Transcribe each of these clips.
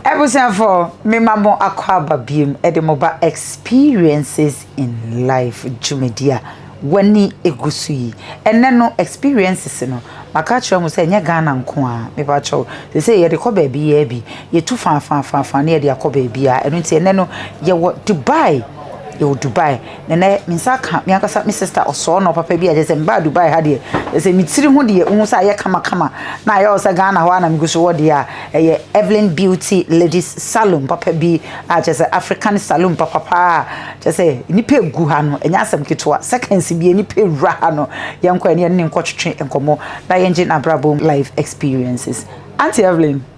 Abusuafo, mema mo akɔ aba biom de mo ba Experiences in Life dwumadi a w'ani egu so yi. Ɛnɛ no, experiences no, maka akyerɛ mo sɛ ɛnyɛ Ghana nko a, mepa kyɛw. Sɛ sɛ yɛde kɔ baabi yɛ bi, yɛtu faafaafaafa na yɛde akɔ baabi a, ɛno nti ɛnɛ no, yɛwɔ Dubai, yɛwɔ Dubai. Ɛnɛ me nsa aka me ankasa me sister ɔsɔɔnɔ papa bi a kyerɛ sɛ mbaa Dubai ha deɛ kyerɛ sɛ me tiri ho deɛ wohu sɛ ayɛ kamakama na ayɛ wo sɛ Ghana hɔ a na megu so wɔ deɛ a ɛyɛ Evelyn Beauty Ladies Salon papa bi a kyerɛ sɛ African salon papapa a kyerɛ sɛ nnipa egu ha no ɛnyɛ asɛm ketewa seconds bie nnipa ewura ha no yɛnkɔ ɛne ɛne nkɔtwetwe nkɔmmɔ na yɛngye n'abrabɔ life experiences Auntie Evelyn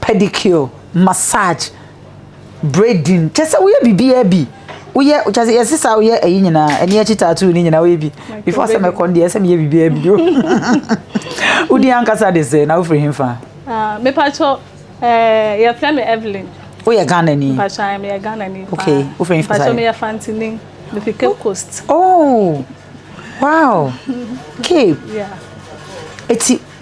pedicure, massage, braiding, kyɛ sɛ woyɛ biribiara bi. Woyɛ kyɛ sɛ yɛse saa woyɛ ɛyi nyinaa, ɛne akyi tattoo ne nyinaa woyɛ bi. Before sɛ mɛkɔ deɛ sɛ meyɛ biribiara bi o. Wodi ankasa de sɛ na wofiri hemfa? Ah, mepatɔ eh yɛfrɛ me Evelyn. Woyɛ Ghana ni? Mepatɔ ayɛ meyɛ Ghana ni. Okay, wofiri hemfa saa? Mepatɔ meyɛ Fantini. Mefiri Cape Coast. Oh, wow. Cape. Yeah. Eti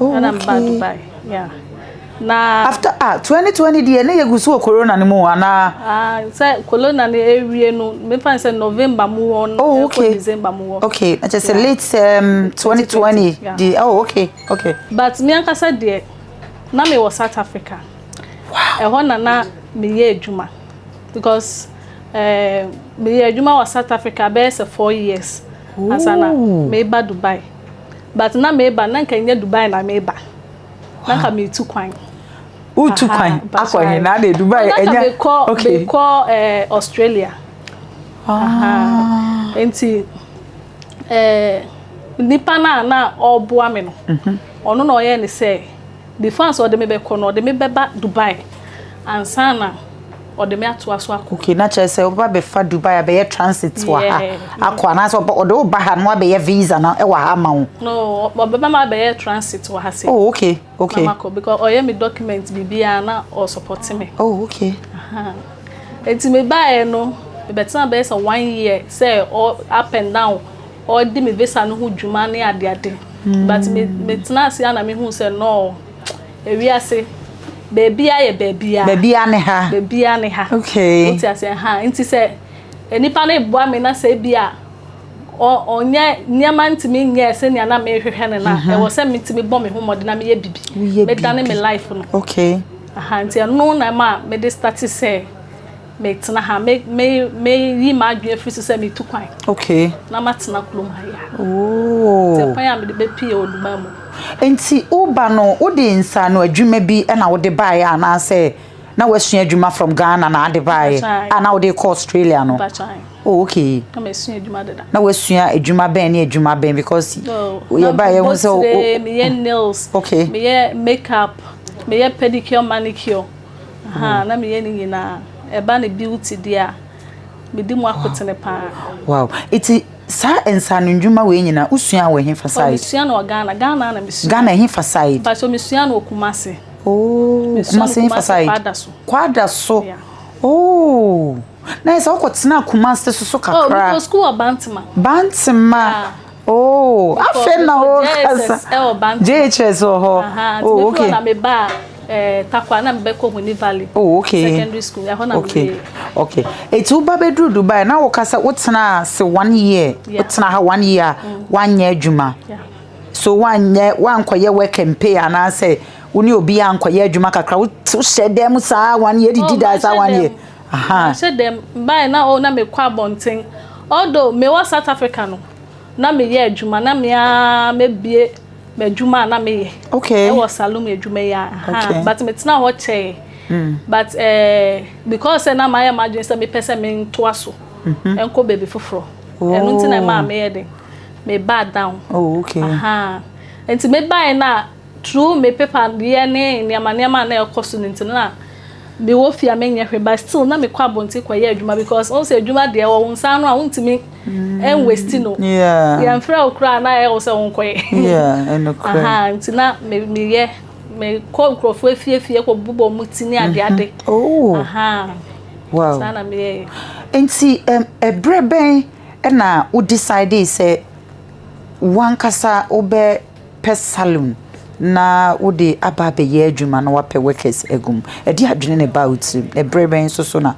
Oh, Ɛna mba okay. Dubai. Yeah. Na After ah, 2020 deɛ na yɛgu so wɔ corona no mu anaa? ah, sɛ kolona no awie no mefa no sɛ november mu hɔ no Oh, ɛkɔ okay. december mu hɔ Okay, na kyerɛ sɛ Yeah. late um, 2020 Yeah. deɛ, oh, okay, okay. but me ankasa deɛ na mewɔ south africa ɛhɔ na na meyɛ adwuma because eh, meyɛ adwuma wɔ south africa bɛyɛ sɛ four years ansa na Ooh. meba dubai but na meba na nka nyɛ dubai na meba na nka metu kwan wotu kwan akɔ he na de dubai ɛnyɛ okay mekɔ eh, australia ah. nti eh, nipa no a na ɔboa me no mhm. ɔno na ɔyɛ ne sɛ Mefaa sɛ ɔde me bɛkɔ no, ɔde me bɛba Dubai ansa na ɔde me atoa so akɔ. Okay, na kyerɛ sɛ ɔbɛba bɛfa Dubai abɛyɛ transit wɔ ha akɔ anaasɛ ɔde wo ba ha na wabɛyɛ visa no wɔ ha ama wo? No, ɔbɛba ma abɛyɛ transit wɔ ha sei. Oh, okay, okay. Na makɔ because ɔyɛ me document biribiara na ɔsupporte me. Oh, okay. Nti mebaeɛ no, mebɛtena bɛyɛ sɛ one year sɛ up and down. ɔredi me visa no ho dwuma ne adeade but me metena ase a na mehu sɛ nɔɔ ewiase beebia yɛ beebia beebia ne ha beebia ne ha okay wote ase ha nti sɛ nipa no eboa me na sɛ bi a ɔnyɛ nneɛma ntumi nyɛ sɛ nea na mehwehwɛ no na mhm. ɛwɔ sɛ metumi bɔ me ho mmɔden na meyɛ bibi medane me life no okay aha nti ɛno na ma mede start sɛ Metena ha, me, me, meyi m'adwene afiri so sɛ metu kwan. Okay. Na matena kurom ha yi a. Oo. Sɛ kwan a mede bɛpie wɔ Dubai mu. Nti woba no, wode nsaano adwuma bi na wode baeɛ anaasɛ na woasua adwuma from Ghana na ade baeɛ a na wode kɔ Australia no? Oh, okay. Na masua adwuma deda. Na wasua adwuma bɛn ne adwuma bɛn because yɛ ba yɛ ho sɛ o. Meyɛ nails. Okay. Meyɛ makeup. Meyɛ pedicure manicure. Ahaa na meyɛ ne nyinaa ɛba ne beauty deɛ a medi mu akotene paa. Wow eti saa nsaano ndwuma wei nyinaa wosua wɔ hefa side? Mesua no wɔ Ghana, Ghana na mesua. Ghana hefa side? Mpakyɛ mesua no wɔ Kumasi. Oh Kumasi hefa side? Kwada so. Kwada so. Yeah. Oh, na yɛ sɛ wokɔtenaa Kumasi so so kakra. Oh, mekɔ sukuu wɔ Bantama. Bantama. Yeah. Oh, afei na wo kasa. JHS wɔ hɔ. Oh, okay. Na me ba eh takwa na me bɛ kɔ Huni Valley. Oh, okay. Secondary school. Ɛhɔ na me. Okay. Okay. Eti wo ba bɛ duru Dubai na wo kasa wo tena se one year. Wo tena ha one year. One year adwuma. So one year one kɔ yɛ work and pay and I say wo ne obi ankɔ yɛ adwuma kakra wo hyɛ dɛm saa one year didi da saa one year. Mahyɛ da mbae na oh na mekɔ abɔnten Although mewɔ South Africa no na meyɛ adwuma na me ara mabue m'adwuma a na meyɛ wɔ saloom adwuma yi ahaa but metena hɔ kyɛɛ but because sɛ na mayɛ m'adwene sɛ mepɛ sɛ mentoa so nkɔ baabi foforɔ ɛno nti na ɛmaa meyɛ den mebaa down ahaa nti mebaeɛ no a Through me paper yɛ ne nneɛma nneɛma a na ɛkɔ so no nti no na me wɔ fie a menyɛ hwee but still na me kɔ abɔnten kɔ yɛ adwuma because wɔn sɛ adwuma deɛ wɔ wɔn nsa ano a wɔntumi ɛnwɛsti no yɛn frɛ wo koraa na ɛyɛ wɔ sɛ wɔn kɔ yɛ nti na me me yɛ me kɔ nkurɔfoɔ efie fie kɔ bubɔ wɔn ti ne ade ade saa na me yɛ yɛ. nti ɛbrɛ bɛn ɛna wo decide sɛ wankasa wobɛ. pɛ saloon na wode aba abɛyɛ adwuma na wapɛ workers agu mu? Ɛde adwene na ɛbaa wo tirim. Ɛberɛ bɛn nso so na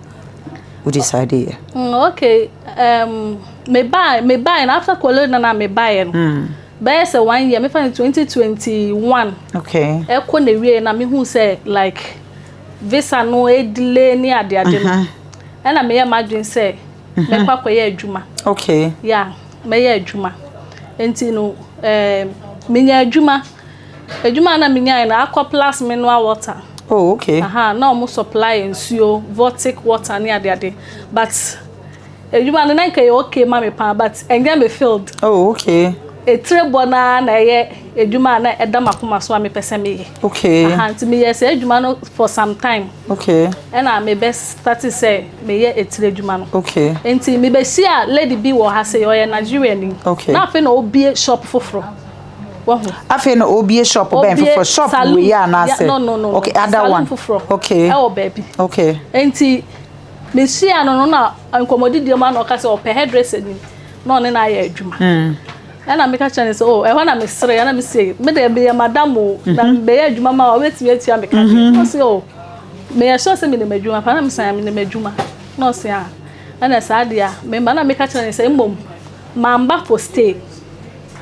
wo decide yɛ? Mm, okay. Um, me buy, me buy. And after college, na na me buy. No. Mm. Bɛyɛ sɛ one year. Me find 2021. Okay. Ɛkɔ na wie na me hu sɛ like visa no edile ni ade ade no. Ɛna me yɛ madwin sɛ me kɔ akɔyɛ adwuma. Okay. Yeah. mɛyɛ adwuma. Enti no, ɛɛ, minyaa adwuma. Adwuma a na minyae no, Arcor Plus Mineral Water. Oh, okay. Aha, na wɔn supply yɛ nsuo, Vortic water ne adeade. But adwuma no na nka ɛyɛ okay ma me paa, but ɛnyɛ me field. Oh, okay. Etire bɔ no ara na ɛyɛ. Adwuma a na ɛda m'akoma so a mepɛ sɛ meyɛ. Okay. Aha, nti meyɛɛ saa adwuma no for some time. Okay. Ɛna mebɛ starte sɛ meyɛ etire adwuma no. Okay. Nti mebɛ hyia lady bi wɔ ha sei, ɔyɛ Nigeria ni. Okay. Na afei na ɔbie shop foforɔ. Wahu. Afei na ɔbie shop bɛn foforɔ? Shop wei yɛ anaasɛ? No, no, no. Okay, other one. Salon foforɔ. Okay. Ɛwɔ baabi. Okay. Nti mehyia no no na nkɔmmɔdidie mu a na ɔka sɛ ɔpɛ hairdresser ni na ɔne no ayɛ adwuma. Mm. Ɛna meka kyerɛ no sɛ, oh, ɛhɔ na meseree, ɛna mese, me deɛ meyɛ madam o, na mm-hmm. mebɛyɛ adwuma ma a wobɛtumi atua me ka deɛ. Mm-hmm. Ɔse, oh, meyɛ sure sɛ menim adwuma paa, na mese, ah, menim adwuma. Na ɔse, ah, ɛna saa deɛ a, mema na meka kyerɛ no sɛ, mmom, mamba for stay.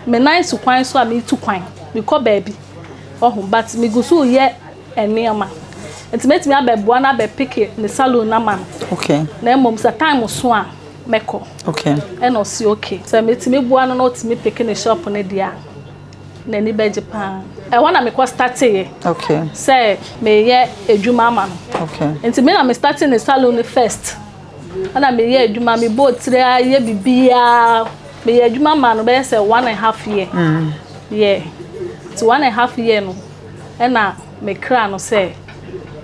Me nan so kwan so a metu kwan, mekɔ baabi. Ɔho, but megu so yɛ nneɛma. Nti mɛtumi abɛboa no abɛpeke ne salon no ama no. Okay. Na mmom sɛ time so a, Mɛkɔ. Okay. Ɛna ɔsi okay. Sɛ metumi boa no na ɔtumi peke ne shop no deɛ a, n'ani bɛgye paa. Ɛhɔ na mekɔ starteeɛ. Okay. Sɛ meyɛ adwuma ama no. Okay. Nti me na me startee ne salon no first. Ɛna meyɛ adwuma, mebɔ tiri a, yɛ biribiara. Meyɛ adwuma maa no bɛyɛ sɛ one and half year. Mm. Yeah. Nti one and half year no, ɛna me kra no sɛ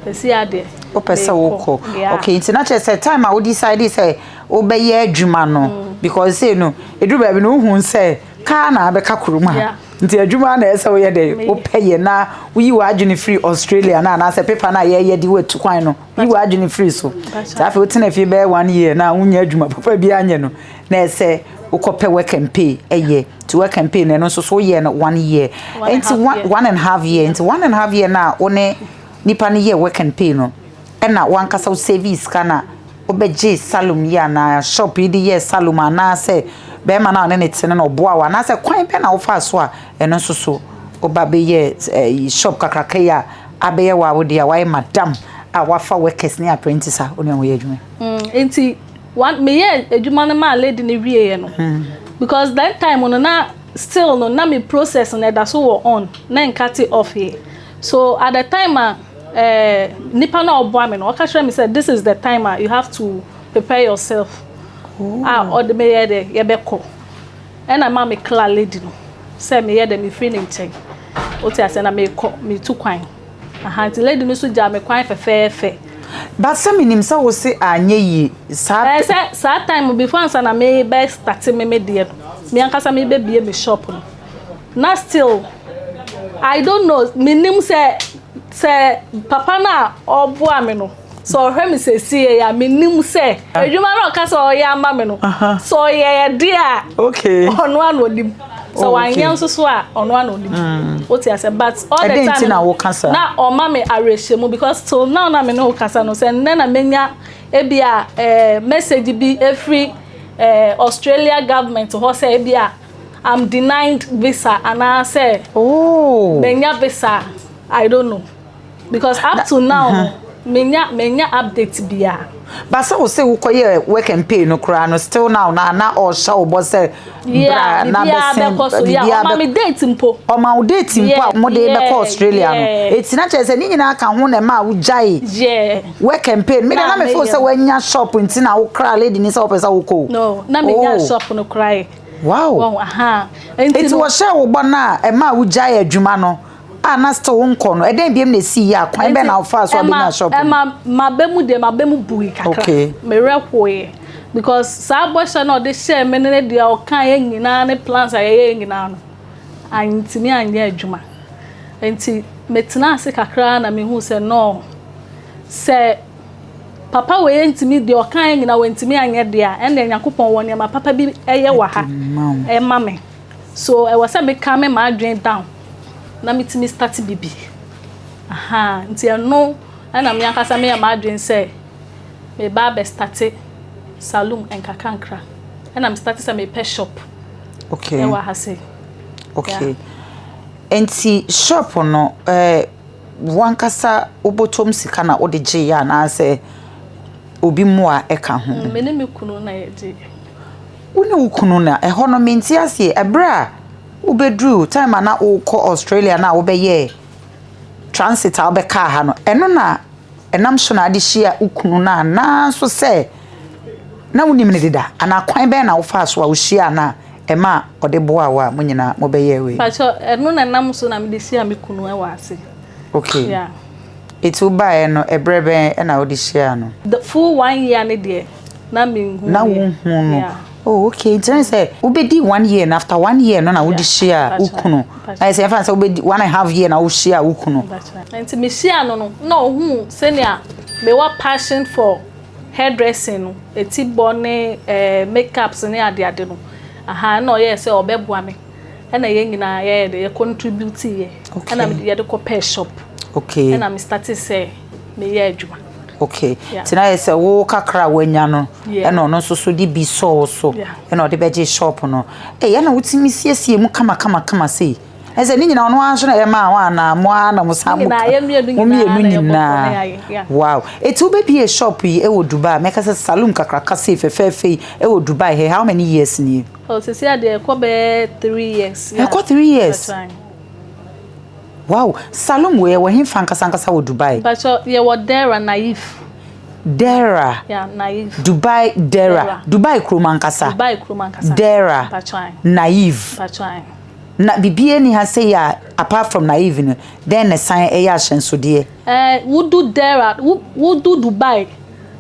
ɛsi adeɛ wopɛ sɛ wokɔ ok nti na kyerɛ sɛ time a wo decide sɛ wobɛyɛ adwuma no mm. because sei no ɛduru baabi no wohu sɛ kaa na abɛka kurom ha nti adwuma na ɛsɛ woyɛ dɛ wopɛ yɛ na woyi w'adwene firi australia no anaasɛ pepa no a yɛyɛ de woatu kwan no yi w'adwene firi so sɛ afei wotena fie bɛyɛ one year na wonya adwuma papa bi anyɛ no na ɛsɛ wokɔpɛ work and pay ɛyɛ nti work and pay na ɛno nso so woyɛ no one year nti one and half year nti one and half year no a wo ne nipa no yɛ work and pay no ɛna wankasa wo save sika no a wobɛgye salom yi anaa shop yi de yɛ salom anaasɛ bɛrima no a ɔne ne tene no ɔboa wo anaasɛ kwan bɛ na wofaa so a ɛno nso so woba bɛyɛ eh, shop kakraka yi a abɛyɛ wɔ awode a wayɛ madam a wafa workers ne apprentice a wo ne wɔn yɛ adwuma mm, nti One, me yɛɛ adwuma no maa lady no wieɛ no, because that time no na still no na me process no ɛda so wɔ on, na ɛnka te off yɛ. So at the time a eh, nipa no a ɔboa me no, ɔka kyerɛ me sɛ this is the time a you have to prepare yourself a ɔde me yɛ dɛ yɛbɛkɔ. Ɛna ma me kla lady no sɛ meyɛ dɛ mefiri ne nkyɛn, wote aseɛ, na meekɔ, metu kwan. Aha nti lady no so gyaa me kwan fɛfɛɛfɛ. But sɛ menim sɛ wo se anyɛ yie saa pɛ. Ɛɛ sɛ saa time before ansa na me bɛ starte me me deɛ no me ankasa me bɛ bie me shop no na still I don't know menim sɛ sɛ papa no a ɔboa me no. Sɛ ɔhwɛ me sɛsie a, menim sɛ ah. adwuma no ɔka sɛ ɔyɛ ama me no, sɛ ɔyɛ ɛde a, ɔno a na ɔnim. Sɛ oh, wanyɛ nso so a, ɔno a na ɔnim. Mm. Wote asɛ but all the time na ɔma me awerɛhyɛmu because till now na me ne wo kasa no sɛ nnɛ na menya ebi a eh, message bi efiri eh, Australia government hɔ sɛ ebi a I'm denied visa anaasɛ oh. menya visa I don't know. Because up to now no, menya menya update biara. Ba sɛ wo se wokɔyɛ work and pay no koraa no still now na na ɔhyɛ wo bɔ sɛ bra na bɛsɛn biribiara ɔma me date mpo ɔma wo date mpo a wɔde bɛkɔ Australia no ɛti na kyerɛ sɛ ne nyinaa ka ho na ɛma a wogyae work and pay no mede na mefo sɛ woanya shop nti na wokra lady ni sɛ wopɛ sɛ wokɔ o na menya oh. shop no koraa wow ɛti wɔhyɛ wo bɔ no a ɛma a wogyae adwuma no a na still wo nkɔ no ɛdɛn biam na ɛsii yɛ a kwan bɛn na wofaa so a bɛnya shop ɛma maba mu deɛ maba mu bui kakra merɛ hoeɛ because saa bɔhyɛ no ɔde hyɛɛ me ne deɛ ɔkaeɛ nyinaa ne plans a yɛyɛɛ nyinaa no antumi anyɛ adwuma nti metena ase kakra na mehu sɛ no sɛ papa wei ntumi deɛ ɔkaeɛ nyinaa wantumi anyɛ deɛ a ɛnna nyankopɔn wɔ nneɛma papa bi ɛyɛ wɔ ha ɛma me so ɛwɔ sɛ meka me ma adwene down na metumi starte biribi. Ahaa, nti ɛno na me ankasa meyɛ m'adwene sɛ meba abɛ starte saloom nkakrankra. Ɛna me starte sɛ mepɛ shop ɛwɔ ha sei. Okay, nti shop no ɛɛ wo ankasa wo bɔtɔm sika na wode gye yɛ anaasɛ obi mmoa ɛka ho? Me ne me kunu na yɛgye yɛ. Wo ne wo kunu na ɛhɔ no mente aseɛ ɛberɛ a. wobɛduruu time a na wokɔ australia no a wobɛyɛɛ transit a wobɛkaa ha no ɛno na ɛnam so na ade hyia wo kunu no a naa nso sɛ na wonim no deda anaa kwan bɛn na wofaa so a wohyia no a ɛma ɔde boa wo a mo nyinaa mobɛyɛ wei pakyɛ ɛno na ɛnam so na mede hyia me kunu wɔ ase okay yeah. ɛti wobaeɛ no ɛberɛ bɛn na wode hyia no the full one year ne deɛ na menhu na wonhu no oh okay nti na sɛ wobɛdi one year na after one year no na wode hyia wo kunu na sɛ ɛfa sɛ wobɛdi one and half year na wohyia wo kunu nti mehyia no no na ɔhuu sɛnea mewɔ passion for hairdressing no ɛti bɔ ne eh, makeups ne adeade no aha na ɔyɛɛ sɛ ɔbɛboa me ɛna yɛn nyinaa yɛyɛ de yɛ contribute yɛ ɛna yɛde kɔ pɛ shop okay ɛna me start sɛ meyɛ adwuma Okay. Yeah. Tina yɛ sɛ wo kakra a wanya no ɛna ɔno nso so de bi sɔɔ so ɛna ɔde bɛgye shop no. Ɛyɛ eh, na wotumi siesie mu kama kama kama sei. Ɛsɛ ne nyinaa ɔno ara nso na ɛyɛ maa wɔn anaa mo ara na mo saa mo ka. Mo mmienu nyinaa. Wow. Eti wobɛbie shop yi ɛwɔ Dubai. Mɛka sɛ saloon kakraka sei fɛfɛɛfɛ yi ɛwɔ Dubai hɛ how many years nie? Oh, sisi adeɛ ɛkɔ bɛɛ three years. Ɛkɔ three years. Wow! Salom wei ɛwɔ hefa ankasa ankasa wɔ Dubai? Mpatsɔ yɛwɔ Dera Naif. Dera. Yeah, Naif. Dubai Dera. Dera. Dubai kurom ankasa. Dubai kurom ankasa. Dera. Mpatsɔ ayi. Naif. Mpatsɔ ayi. Na biribiara ni ha sɛ yɛ apart from Naif no dɛn na san ɛyɛ ahyɛnsodeɛ? Ɛɛ eh, wodu Dera wodu Dubai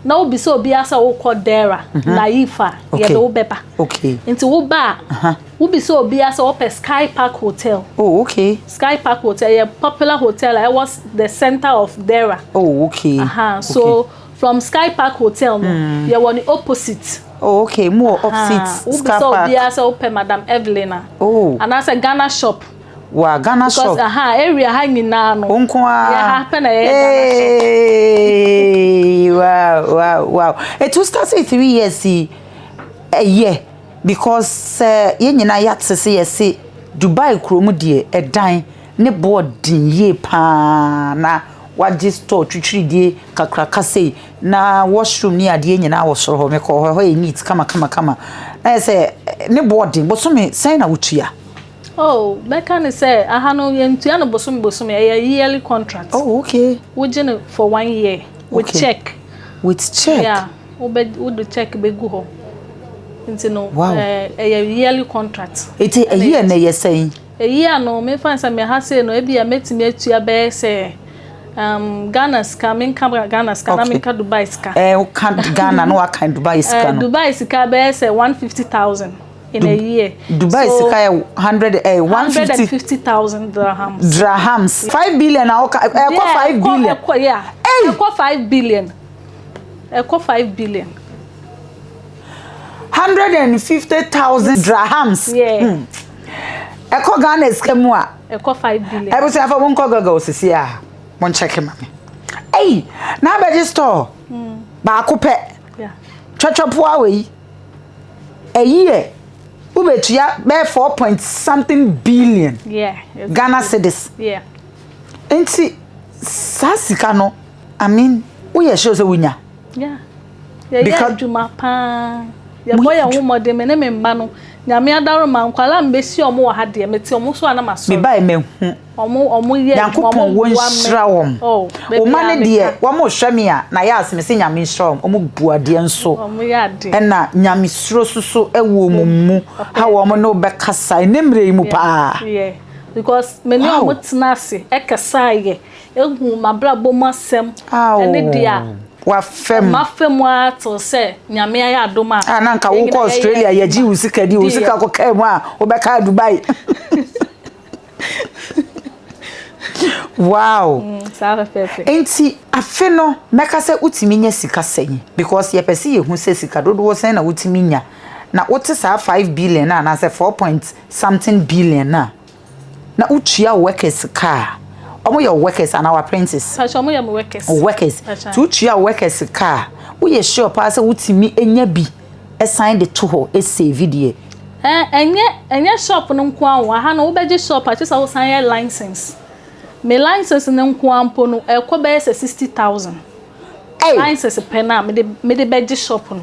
na wobisa obiara sɛ wokɔ Dera mm -hmm. Naif a yɛde wobɛba. Okay. Nti woba a. Uh -huh. Wobisa obiara sɛ ɔpɛ Sky Park Hotel. Oh, okay. Sky Park Hotel yɛ popular hotel a ɛwɔ the center of Dera. Oh, okay. Aha, so from Sky Park Hotel no, yɛwɔ ne opposite. Oh, okay. Mu wɔ opposite Sky Park. Wobisa obiara sɛ wopɛ Madam Evelyn a. Oh. Anaasɛ Ghana shop. Wa Ghana shop. Because aha, area ha nyinaa no. Wo nko ara. Yɛ ha pɛ na yɛyɛ Ghana shop. Hey, wow, wow, wow. It was started three years. Ɛyɛ. Because sɛ yɛn nyinaa yɛate sɛ yɛse Dubai kuro mu deɛ ɛdan ne boɔ den yie paa na wagye store twitwiridie kakraka sei na washroom ne adeɛ nyinaa wɔ soro hɔ mekɔɔ hɔ ɛhɔ yɛ neat kama kama kama na yɛ sɛ ne boɔ den bosome sɛn na wotua. Oh mɛka ne sɛ aha no yɛntua no bosome bosome ɛyɛ yearly contract. Oh okay. Wogye no for one year with okay. check. With check. Yeah. wobɛ wode check bɛgu hɔ nti no wow. eh, ɛyɛ yearly contract ɛti ɛyi a na ɛyɛ sɛn ɛyi a no mefa sɛ meha sei no ebi a mɛtumi atua bɛyɛ sɛ um, Ghana sika menka Ghana sika okay. na menka Dubai sika eh, woka Ghana na waka Dubai eh, sika no Dubai sika bɛyɛ sɛ 150000 in du a year. Dubai so, sika yɛ hundred eh, one fifty thousand dirhams. Dirhams five billion na ɔka ɛkɔ five billion. Ɛkɔ yeah. Ɛkɔ five billion. ɛkɔ five billion. hundred and fifty thousand drahams. Yeah. Hmm. ɛkɔ ghana sika mu a. ɛkɔ five billion. ɛbusua afɔ mo nkɔ gɔgɔ osisi a mo nkyɛke ma mi. ɛyi n'abɛgye store hmm. baako pɛ twɛtwɛpoa wɔ yi ɛyi yɛ wobɛtua bɛyɛ four point something billion yeah, ghana cedis. Yeah. nti saa sika no. I mean, woyɛ sure sɛ wonya? Yeah. Yɛyɛ adwuma paa. Yɛbɔ yɛn ho mmɔden, me ne me mma no. Nyame adaroma, nkwadaa a mebɛsi wɔn wɔ ha deɛ, mete wɔn so a na masɔre. Mebae mahu. Wɔn, wɔn yɛ adwuma, wɔn boa me. Nyankopɔn wɔnhyira wɔn. Oh, baabi a meka. Wɔn ma ne deɛ, wɔn rehwɛ me a, na yɛ ase, mese Nyame nhyira wɔn. Wɔn bu adeɛ nso. Wɔn yɛ adeɛ. Ɛna Nyamesuro soso ɛwɔ wɔn mu. Ha wɔn ne wobɛkasa, ɛnɛ mmerɛ yi mu paa. Yeah, yeah. Because me ne wɔn tena ase, ɛkasa yɛ. Ehu m'abrabɔ mu asɛm ne deɛ a. Wafa mu. Mafa mu ara tew sɛ Nyame ayɛ adom a. A na nka wokɔ Australia yɛgye wo sika di, wo sika kɔkaa mu a wobɛkaa Dubai. Wow. Mm, Nti afe no mɛka sɛ wotumi nya sika sɛn because yɛpɛ sɛ yɛhu sɛ sika dodoɔ sɛn na wotumi nya na wote saa five billion anaasɛ four point something billion a. na wotua wo workers ka a wɔn yɛ wo workers anaa w'apprentice Pacho wɔn yɛ mo workers wo workers Pacho. nti wotua wo workers ka a woyɛ sure paa sɛ wotumi nya bi ɛsan de to hɔ ɛsave deɛ Ɛn, ɛnyɛ ɛnyɛ shop no nko ara o aha no wobɛgye shop a kyerɛ sɛ wosan yɛ license me license no nko ara mpo no ɛkɔ bɛyɛ sɛ sixty thousand Ei! license pɛ no a mede mede bɛgye shop no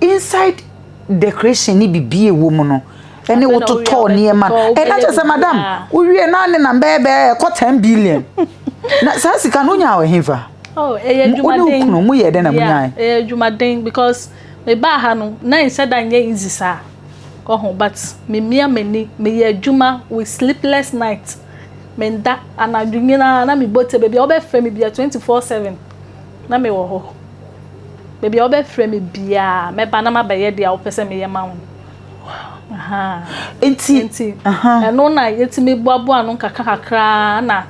inside decoration ne biribi ɛwɔ mu no ɛne wototɔɔ nneɛma ɛna kyɛ sɛ madam wowie na ne nam bɛyɛ bɛyɛ ɛkɔ ten billion na saa sika no wonya wɔ hefa oh, wone wokunu mu yɛ dɛ na monyae ɛyɛ adwumaden because mebaa ha no na ɛnsɛ da nyɛ easy saa ɔho but memia m'ani meyɛ adwuma with sleepless night menda anadwo nyinaa na mebɔ tɛ baabi a wobɛfrɛ me bia 24 7 na mewɔ hɔ Baabi a wobɛfrɛ me biara, mɛba na mabɛyɛ deɛ wopɛ sɛ meyɛ ma wo no. Nti, nti ɛno na yɛtumi boaboa ano kakrakakra na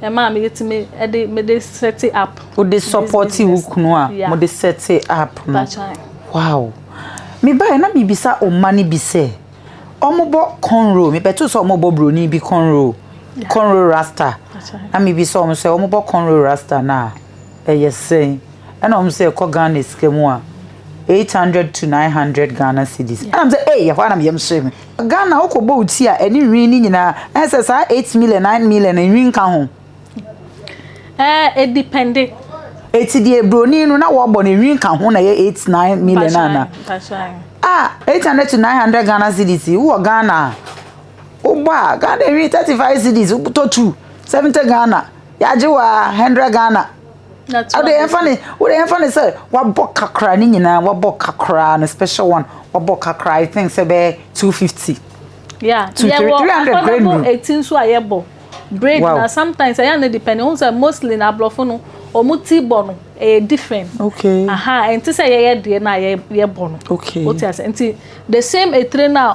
ɛma me yɛtumi de mede sɛte app. wode sɔpɔte wo kunu a mode sɛte app no wow mebaeɛ na biribisa ɔma no bi sɛ ɔmobɔ conro mebɛto sɛ ɔmobɔ buroni bi conro conro rasta na mebi sɛ ɔmo sɛ ɔmobɔ conro rasta no a Ɛyɛ sɛn? Ɛna wɔn sɛ ɛkɔ Ghana sika mu a, eight hundred to nine hundred Ghana cedis. Ɛna wɔn sɛ, ee, ɛhɔ ara na yɛm sɔe me. Ghana wokɔ bɔ wo ti a, ɛne nwi ne nyinaa, ɛne sɛ saa eight million, nine million, nwi nka ho. Ɛɛ, edipɛnde. Eti deɛ broni no na wɔbɔ no nwi nka ho na ɛyɛ eight nine million ana. A eight hundred to nine hundred Ghana cedis wowɔ Ghana a, wobɔ a Ghana nwi thirty five cedis wotɔ two seventy Ghana. Yɛagye wo aa hundred Ghana. Wode yɛmfa ne wode yɛmfa ne sɛ wabɔ ka koraa ne nyinaa wabɔ ka koraa no special one wabɔ ka koraa I think sɛ bɛyɛ two fifty. Yeah, two three three hundred grand mu. Eti nso a yɛbɔ braid na sometimes ɛyɛ ne depend ohun sɛ mostly na aborɔfo no wɔn ti bɔ no ɛyɛ different. Okay. Aha ɛnti sɛ yɛyɛ deɛ na yɛbɔ no. Okay. Wote ase nti the same etire na.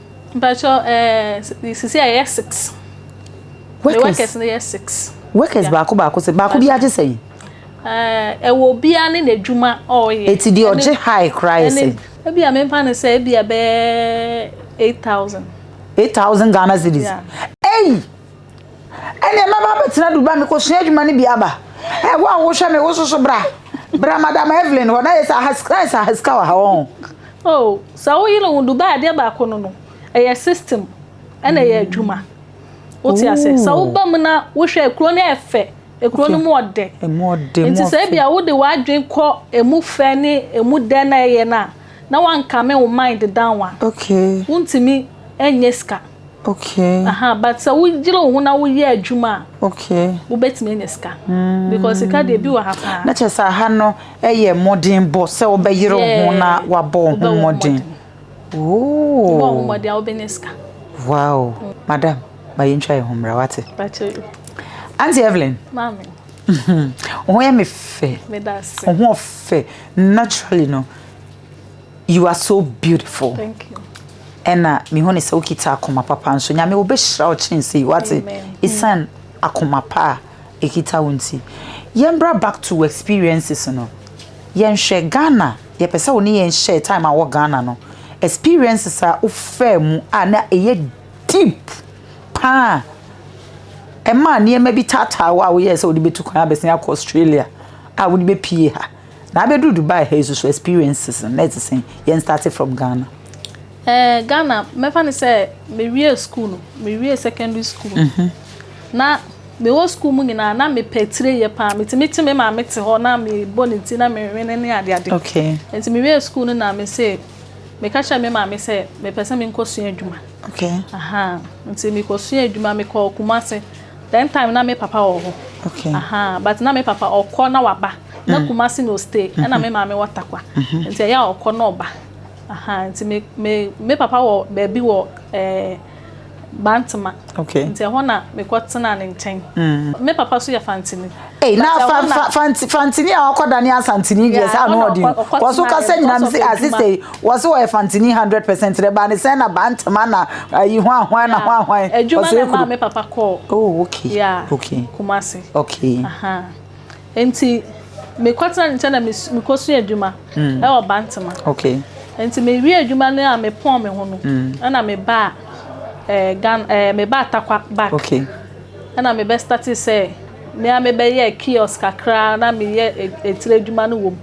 Mpatsɔ ɛɛ sisi a yɛ six. Workers. Workers no yɛ six. Workers baako baako sɛ baako bi agye sɛn. Ɛɛ ɛwɔ obiara ne n'adwuma ɔɔyɛ. Eti deɛ ɔgye high koraa yɛ sɛn. Ebi a mempa ne sɛ ebi a bɛyɛ eight thousand. Eight thousand Ghana cedis. Ei. ɛnneɛ mɛba abɛtena Dubai mekɔsua adwuma no bi aba ɛ wo a wohwɛ me woso so bra bra madam Evelyn hɔ na yɛ sɛ ayɛ sɛ ahasika wɔ ha wɔn oh sɛ wo yere wo Dubai adeɛ baako no no ɛyɛ system ɛna ɛyɛ adwuma wote ase sɛ woba mu na wohwɛ kuro no ɛfɛ ekuro no mu ɔdɛ nti sɛ ebi a wode w'adwen kɔ emu fɛ ne emu dɛ na ɛyɛ no a na wankame wo mind down a wontumi Ɛnyɛ sika. Okay. Aha, but sɛ wogyere wo ho na woyɛ adwuma a. Okay. Wobɛtumi anya sika. Mm. Because sika deɛ bi wɔ ha paa. Na kyerɛ sɛ aha no ɛyɛ mmɔden bɔ sɛ wobɛyere wo ho na wabɔ wo ho mmɔden. Wobɔ wo ho mmɔden a wobɛnya sika. Wow. Mm. Madam, ma yɛntwa yɛn ho mmra wate. Auntie Evelyn. Maame. Wo ho yɛ me fɛ. Wo ho ɔfɛ naturally no. You are so beautiful. Thank you. ɛna mehu ne sɛ wokita akoma papa nso nyame wobɛhyira wo kyɛn sei wate ɛsiane akoma pa a ɛkita wo nti yɛmbra back to experiences no yɛnhwɛ ghana yɛpɛ sɛ wo ne yɛn hyɛ time a wɔ ghana no experiences a wofaa mu a na ɛyɛ deep paa ɛma nneɛma bi taataa wo a woyɛɛ sɛ wode bɛtu kwan abɛsen akɔ australia a wode bɛpie ha Na abɛduru Dubai ha yi nso so experiences no na ɛte sɛn? Yɛn starte from Ghana. Ɛɛ Ghana mɛfa no sɛ mewiee sukuu no, mewiee secondary school no, na mewɔ sukuu mu nyinaa na mepɛ atireyɛ pa ara. Metumi te me maame te hɔ na mebɔ ne ti na menwene ne adeade. Okay. Nti mewiee sukuu no na me se meka kyerɛɛ me maame sɛ mepɛ sɛ menkɔsua adwuma. Okay. Ahaa. Nti mekɔsuaa adwuma, mekɔɔ Kumasi. That time na me papa wɔ hɔ. Okay. Ahaa. But na me papa ɔkɔ na waba. na Kumasi na ostay ɛna me maame wɔ Takwa nti ɛyɛ a ɔkɔ na ɔba ahaa nti me me me papa wɔ baabi wɔ ɛɛ Bantama nti ɛhɔ na mekɔ tenaa ne nkyɛn me papa so yɛ Fantini. Hey, na fa fa fanti fantini a ɔkɔ dani asantini deɛ saa na ɔdi wɔso kasa nyinaa mi se asese wɔso wɔyɛ fantini hundred percent dɛ baa ne sɛn na baa ntoma na ayi ho ahwan na ho ahwan wɔso ekuru. Adwuma na ɛma me papa kɔɔ. Oh okay. Yeah. Okay. Kumasi. Okay. Aha. Uh -huh. Nti me kɔ tena ne nkyɛn na me kɔ sua adwuma ɛwɔ Bantama. Nti me wie adwuma no a me pɔn me ho no ɛna me ba ɛɛ Ghana ɛɛ me ba Atakwa back ɛna me bɛ start sɛ me ara me bɛ yɛ kiosk kakra na me yɛ etire adwuma no wɔ mu.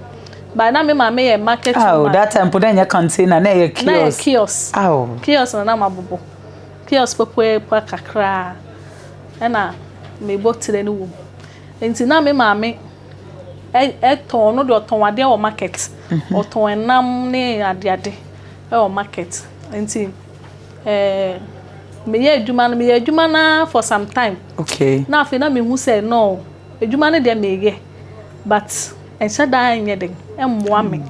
But na me maame yɛ market woman. Awo that time po na ɛnyɛ container na ɛyɛ kiosk. Na ɛyɛ kiosk. Awo. Kiosk na na ma bobɔ. Kiosk pɛpɛɛpɛ kakra ɛna me bɔ tire no wɔ mu. Nti na me maame tɔn, ɔno deɛ ɔtɔn adeɛ wɔ market. Ɔtɔn ɛnam ne adeade wɔ market. Nti meyɛ adwuma no, meyɛ adwuma no ara for some time. Na afei na mehu sɛ no, adwuma no deɛ meyɛ but ɛnhyɛ da nyɛ dɛn, ɛmmoa me.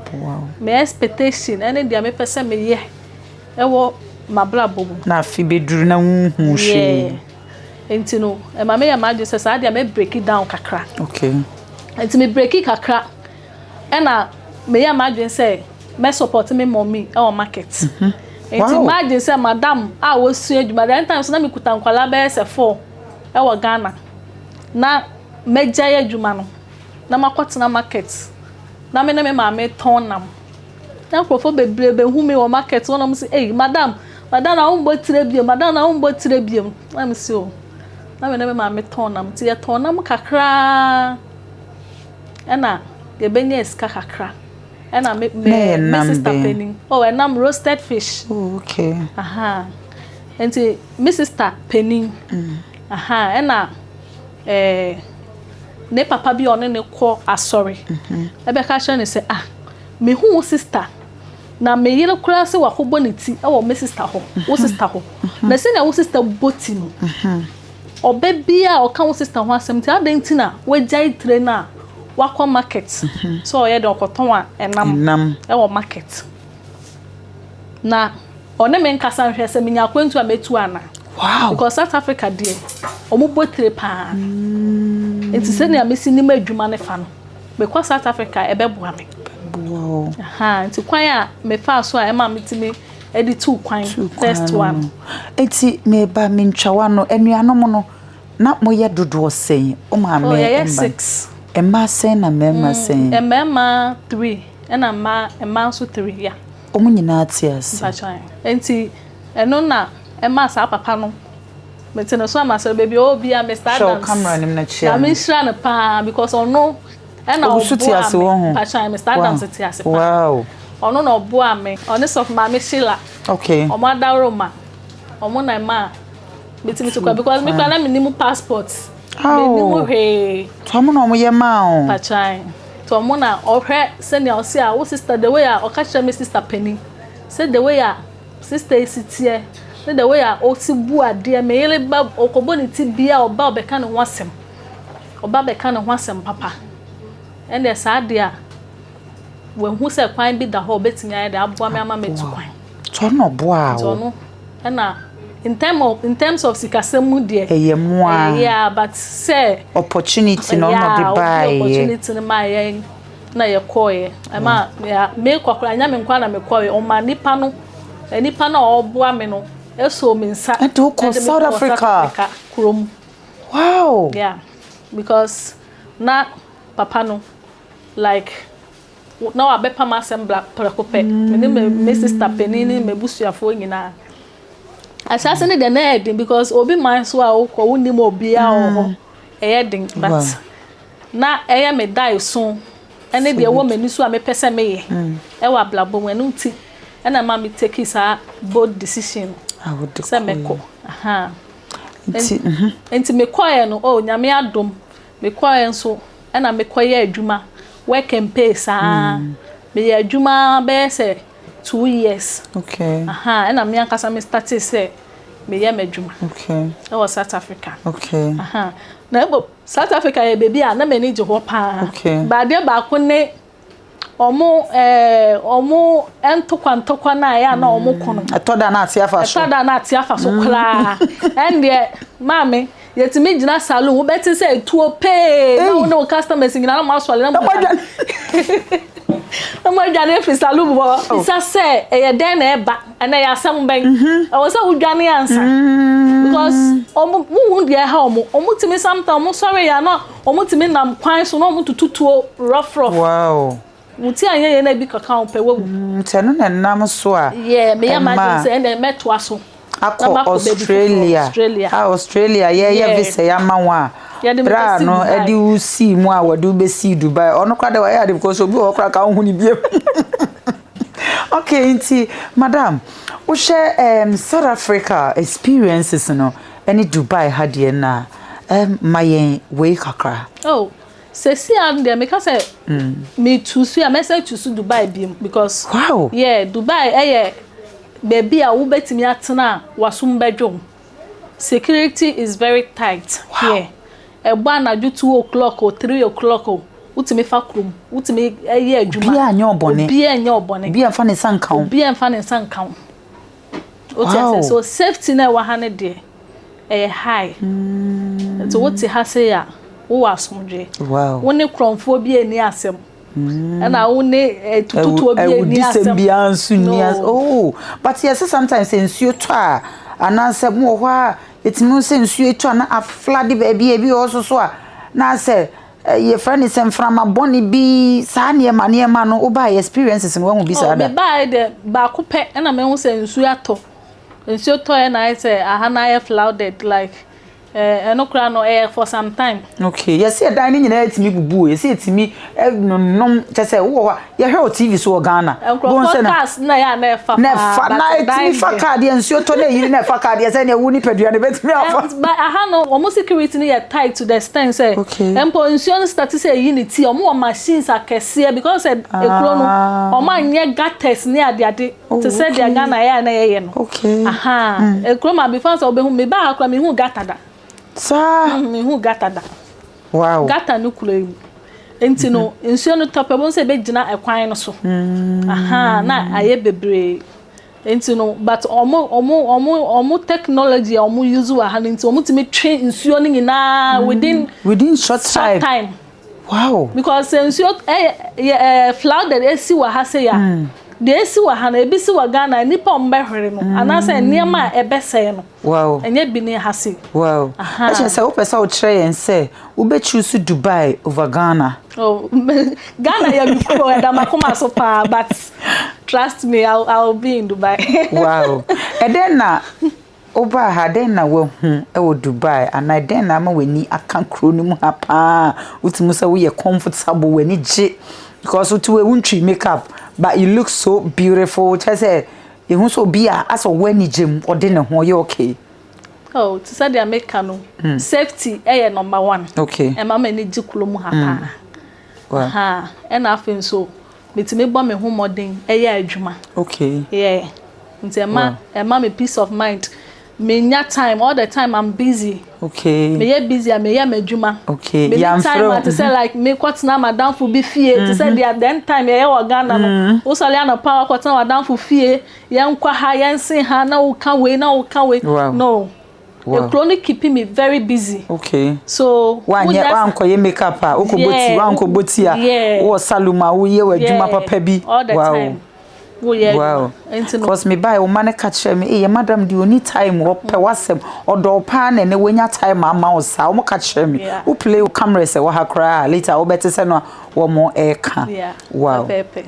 Me expectation ne deɛ mepɛ sɛ meyɛ wɔ m'abrabɔ mu. Na afe bɛduru na wonhu hwee. Nti no ɛma me yɛ m'adwene sɛ saa deɛ mɛ breaki down kakra. Okay. Nti me breaki kakra ɛna me yɛ m'adwene sɛ mɛ support me mɔmi ɛwɔ market. Mm -hmm. Nti wow. m'adwene sɛ madam a wɔsua adwuma that time so na me kuta nkwalaa bɛyɛ sɛ four ɛwɔ Ghana na mɛgya yɛ adwuma no na makɔtena market na me ne me maame tɔn nam. Na nkurɔfoɔ bebree bɛhu me wɔ market hɔ na wɔn se, Ei, madam, madam na wommɔ tire biom, madam na wommɔ tire biom. Na me se, O, na me ne me maame tɔn nam, nti yɛtɔn nam kakra ara, ɛna yɛbɛnya asika kakra. Ɛna me, me, me sista panin, oh, ɛnam roasted fish. Oh, okay. Aha. Nti me sista panin, mm. aha, ɛna ɛɛ, eh, ne papa bi a ɔne ne kɔ asɔre, ɛbɛka mm-hmm. kyerɛ ne sɛ, ah, Mehu wo sista, na me yere koraa sɛ wakɔbɔ ne ti wɔ me sista hɔ, wo sista hɔ. Na sɛnea wo sista bɔ ti no, ɔbɛ biara a ɔka wo sista ho asɛm nti, adɛn nti na wagyae tire no a wakɔ market sɛ ɔyɛ dɛn ɔkɔtɔn nam wɔ market? Na ɔne me nkasa nhwɛ sɛ menya akwantu a mɛtu anaa. Because South Africa deɛ, wɔbɔ tire paa. Nti sɛnea mesi nim adwuma no fa no, Mekɔ South Africa a, ɛbɛboa me. Ɛbɛboa wo. Ahaa, nti kwan a mefaa so a ɛmaa metumi de tuu kwan, Tuu kwan first no. one. Enti meba me ntwawa no, anuanom no, na moyɛ dodoɔ sɛn? Wo maame Oh, yɛyɛ mma no. six. Mmaa sɛn na mmarima sɛn? Mmarima three, ɛna mmaa, mmaa nso three, yeah. Wɔn nyinaa te ase. Mpakyɛw, ahe. Enti ɛno na ɛmaa saa papa no. Mete no so a masɔre baabi oh bia Mister Adams. Hwɛ wo camera nim na kyia no. Nyame nhyira no paa because ɔno ɛna ɔboa me. Mpakyɛw Mister Adams te ase paa. Ɔno na ɔboa me. Ɔne sɔfo maame Sheila. Okay. Ɔmo adaworo ma. Ɔmo na ɛma metumi tukɔ because me kura na me nim passport. Me nim hwee. Tɔmo na ɔmo yɛ maa o. Mpakyɛw. Tɔmo na ɔhwɛ sɛnea ɔsi a wo sister the way a ɔka kyerɛ me sister panin. Sɛ the way a. Sista yi si tseɛ, ne the way a otsi bu adeɛ, me yere ba ɔkɔbɔ ne ti bia ɔba ɔbɛka ne ho asɛm, ɔba bɛka ne ho asɛm papa, ɛnneɛ saa deɛ a, wahu sɛ kwan bi da hɔ a ɔbɛtumi ayɛ de aboa me ama matu kwan. Nti ɔno ɔboaa wo? Nti ɔno ɛna in term of in terms of sikasɛm mu deɛ. Ɛyɛ mo ara. Ɛyɛ yeah but sɛ. Opportunity na ɔna ɔde baayɛ. Yeah ɔde opportunity no maa yɛn. na yɛkɔeɛ ɛma yɛ mekɔ koraa nyɛ me nko ara na mekɔeɛ ɔma nipa no nipa no a ɔboa me no ɛsoo me nsa ɛde wo kɔ South Africa kurom wow yeah because na papa no like na wabɛpam asɛm bla prɛko pɛ me ne me sister panin ne m'abusuafoɔ nyinaa ahyɛase ne deɛ na ɛyɛ den because obi man so a wokɔ wonim obiara wɔ hɔ ɛyɛ den but na ɛyɛ me daeso ne deɛ ɛwɔ m'ani so a mepɛ sɛ meyɛ wɔ abrabɔ mu, ɛno nti na ɛma me take saa bold decision no ah, sɛ mɛkɔ mhm. nti mekɔɛ no oh, nyame adom mekɔɛ nso ɛna mekɔyɛ adwuma work and pay saa mm. meyɛ adwuma bɛyɛ sɛ two years okay. aha ɛna me ankasa me starte sɛ meyɛ m'adwuma okay. ɛwɔ south africa okay. aha na ɛbɔ South Africa yɛ baabi a na m'ani gye hɔ paa. Okay. Ba adeɛ baako ne ɔmo ɛɛ ɔmo ntokwa ntokwa no a ɛyɛ a na ɔmo ko no. Mm, ɛtɔ da na ate afa so. Ɛtɔ da na ate afa so mm. koraa. Ɛndeɛ maame yɛtumi gyina saloon wobɛte sɛ etuo pee na wo ne wo customers nyinaa na mo asɔre na mo adwane. Na mo adwane efi saloon hɔ. Oh. Bisa sɛ ɛyɛ dɛn na ɛba. Ɛnna ɛyɛ asɛm bɛn? Ɛwɔ sɛ wodwane ansa because wɔn wohu deɛ ɛha wɔn. Wɔtumi sometimes wɔsɔre yɛ a na wɔtumi nam kwan so na wɔtoto tuo rough rough. Wow. Wo ti anyɛ yie na ebi kɔka wo pɛ wawu. Nti ɛno na ɛnam so a. Yeah, meyɛ m'adwene sɛ ɛnna mɛtoa so. Akɔ Australia. Australia. Ah, Australia yɛyɛ visa yi ama wɔn a. Yɛde me bɛsi Dubai. Bra no ɛde wo sii mu a wɔde wo bɛsi Dubai. Ɔno koraa deɛ wɔayɛ ade because obi wɔ hɔ koraa ka wohu ne bio. Okay nti madam wohwɛ um, South Africa experiences no ɛne Dubai ha deɛ no a um, ma yɛn wei kakra. Oh, sɛsi a deɛ meka sɛ mm. metu so a mɛsɛ tu so Dubai bi because wow. yeah, Dubai ɛyɛ baabi a wobɛtumi atena a wasom bɛdwom. Security is very tight here, ɛbɔ anadwo two o'clock o, three o'clock o, wotumi fa kurom, wotumi yɛ adwuma. Obiara nyɛ ɔbɔne. Obiara nyɛ ɔbɔne. Obiara nfa ne nsa nka ho. Obiara nfa ne nsa nka ho. Wote ase? So safety na ɛwɔ ha no deɛ, ɛyɛ high. Hmm. Nti wote ha sei a, wowɔ asomdwoe. Wo ne korɔmfoɔ bi ani asɛm. ɛna wo ne tututuo bi ɛni asɛm ɛwudisɛm biara nso ni asɛm oh but yɛ sɛ sometimes sɛ nsuo tɔ a anaasɛ mo wɔ hɔ a ɛtumi sɛ nsuo tɔ a na aflade baabi ebi wɔ so so a na sɛ yɛfrɛ ne sɛ mframa bɔne bi saa nneɛma nneɛma no wobaa yɛ experiences no wahu bi saa da mebaeɛ dɛ baako pɛ ɛna mehu sɛ nsuo atɔ nsuo tɔ ɛna ayɛ sɛ aha no ayɛ flooded like Eh, ɛno koraa no, ɛyɛ for some time. Okay, yɛsi ɛdan no nyinaa etimi bubu o, yɛsi etimi ɛnonom kyɛ sɛ wowɔ hɔ a, yɛhwɛ wɔ TV so wɔ Ghana. Nkurɔfoɔ cars na yɛ a na ɛfa paa, na ɛfa na etimi fa car deɛ nsuo tɔ na eyiri na ɛfa car deɛ sɛ deɛ wo nipadua no ebetumi afa. But aha no, wɔn security no yɛ tight to the extent sɛ, mpo nsuo no start sɛ eyi ne ti a, wɔn wɔ machines akɛseɛ because sɛ ekuro no, wɔn anyɛ gutters ne adeade. Oh, te sɛ deɛ okay. Ghana yɛ a na yɛyɛ no. Okay. Aha. Mm. Eh, kurom a before sɛ wobɛhu me baa ha koraa mehu gata da. Saa. Mm, mehu gata da. Wow. Gata no kura mu. Nti no mm-hmm. nsuo no tɔpɛ bom sɛ ɛbɛgyina ɛkwan no so. Mm. Aha na ayɛ bebree. Nti no but ɔmo ɔmo ɔmo ɔmo technology a ɔmo use wɔ ha no nti ɔmo tumi twe nsuo no nyinaa mm. within within short time. Short time. Wow! Because sɛ nsuo ɛyɛ yɛ ɛɛ flooded esi wɔ ha sei a, deɛ esi wɔ ha no ebi si wɔ Ghana nnipa a wɔbɛhwere no anaasɛ nneɛma a ɛbɛsɛe no. Wow! Ɛnyɛ bi ne ha sei. Wow! Aha. Ɛkyɛ sɛ wopɛ sɛ wokyerɛ yɛn sɛ wobɛ choose Dubai over Ghana. Oh, Ghana yɛ me kuro ɛda m'akoma so paa but trust me I'll, I'll be in Dubai. wow! Ɛdɛn na Wobaa ha, dɛn na woahu wɔ Dubai anaa dɛn na ama w'ani aka kurow no mu ha paa a wotumi hu sɛ woyɛ comfortable, w'ani gye because wote hɔ yi wuntwii make up but you look so beautiful kyerɛ sɛ ehu sɛ obi a asɛ ɔwɔ anigye mu, ɔde ne ho, ɔyɛ okay? Oh, te sɛ deɛ meka no, safety yɛ number one, ɛma m'ani gye kurom ha paa. Ɛna afei nso metumi bɔ me ho mmɔden yɛ adwuma. Nti ɛma me peace of mind. Menya time, all the time I'm busy. Meyɛ busy a meyɛ m'adwuma. Menni time a te sɛ like mekɔtena m'adamfo bi fie te sɛ deɛ then time yɛyɛ wɔ Ghana no. Wosɔre anɔpa a woakɔtena w'adamfo fie, yɛnkɔ ha, yɛnse ha, na woka wei, na woka wei. No. Ekuro no keeping me very busy. Okay. So. Wanyɛ wankɔyɛ make up a wokɔ bɔ ti wankɔ bɔ ti a wowɔ salon a woyɛ wɔ adwuma papa bi. All the time. Woyɛ adwuma. Nti no. Cause me buy wo ma ne ka kyerɛ me eyɛ madam di oni time ɔpɛ wasɛm ɔdɔ wo paa na ɛnɛ wanya time ama wo saa wɔn ka kyerɛ me wo play wo camera sɛ wɔ ha koraa later wobɛte sɛ no a wɔn ɛka. Wow. Pɛpɛɛpɛ.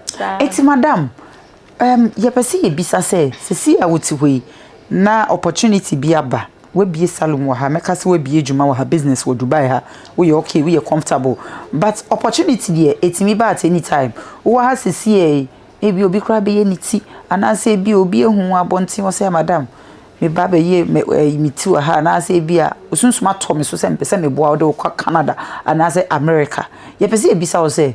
Saa. Eti madam. Erm, yɛpɛ sɛ yɛbisa sɛ, sɛsi a wote hɔ yi, na opportunity bi aba, wabie salon wɔ ha, mɛka sɛ wabie adwuma wɔ ha, business wɔ Dubai ha, woyɛ okay, woyɛ comfortable, but opportunity deɛ, ɛtumi ba at any time. Wowɔ ha sɛsi a yi, ebia obi koraa bɛyɛ ne ti, anaasɛ ebia obi ahu wo abɔnten hɔ sɛ, madam, meba bɛyɛ me ti wɔ ha, anaasɛ ebia osunsum atɔ me so sɛ mepɛ sɛ meboa wo de wo kɔ Canada anaasɛ America. Yɛpɛ sɛ yɛbisa wo sɛ,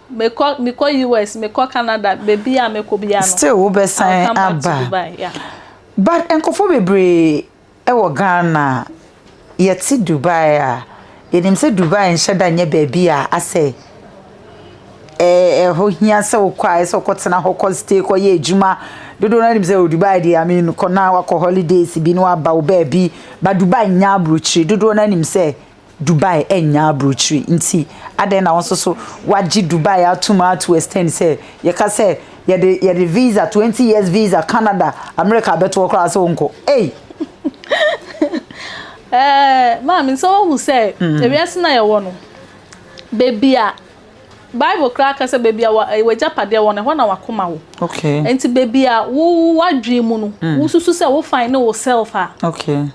Mekɔ mekɔ US mekɔ Canada baabi a mɛkɔ biara no. Still wo bɛ san aba. But nkɔfo bebree ɛwɔ Ghana yɛte Dubai a yɛnim sɛ Dubai nhyɛ da nyɛ baabi a asɛ ɛhɔ hia sɛ wokɔ a ɛsɛ ɔkɔ tena hɔ kɔ stay kɔ yɛ adwuma dodoɔ no nim sɛ wɔ Dubai deɛ ame kɔ na wakɔ holidays bi na waba wo baabi ba Dubai nya aburokyire dodoɔ no nim sɛ Dubai nnya aburokyire nti adɛn na wo nso so wagye Dubai atom to extent sɛ yɛka sɛ yɛde yɛde visa twenty years visa Canada America abɛto hɔ koraa sɛ wonkɔ ei. Ɛɛ maame sɛ wohu sɛ ewiase no a yɛwɔ no baabi a. Bible koraa ka sɛ baabi a w'agyapadeɛ wɔ no, ɛhɔ na w'akoma wɔ. Nti baabi a wo w'adwene mu no, wosusu sɛ wo fine ne wo self a,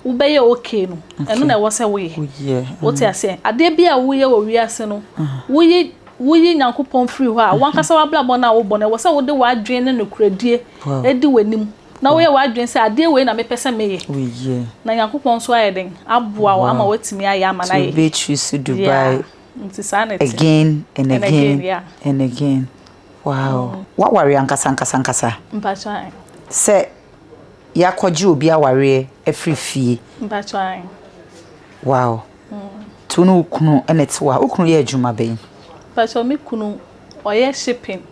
wobɛyɛ okay no, ɛno na ɛwɔ sɛ woyɛ. Wote aseɛ? Adeɛ bi a woyɛ wɔ wiase no, woyi woyi Nyankopɔn firi hɔ a, w'ankasa w'abrabɔ no a wobɔ no, ɛwɔ sɛ wode w'adwene ne nokorɛdie di w'anim, na woyɛ w'adwene sɛ adeɛ wei na mepɛ sɛ meyɛ. Na Nyankopɔn nso ayɛ dɛn? Aboa wo ama woatumi ayɛ ama no ayɛ yie. Nti wo bɛ choose Dubai Again and again and again wow w'awareɛ ankasa ankasa ankasa sɛ yɛakɔgye obi awareɛ afiri fie wow to ne wo kunu ɛna ɛte wa wo kunu yɛ adwuma bɛn. Pàṣẹ mi kunu ɔyɛ shipping.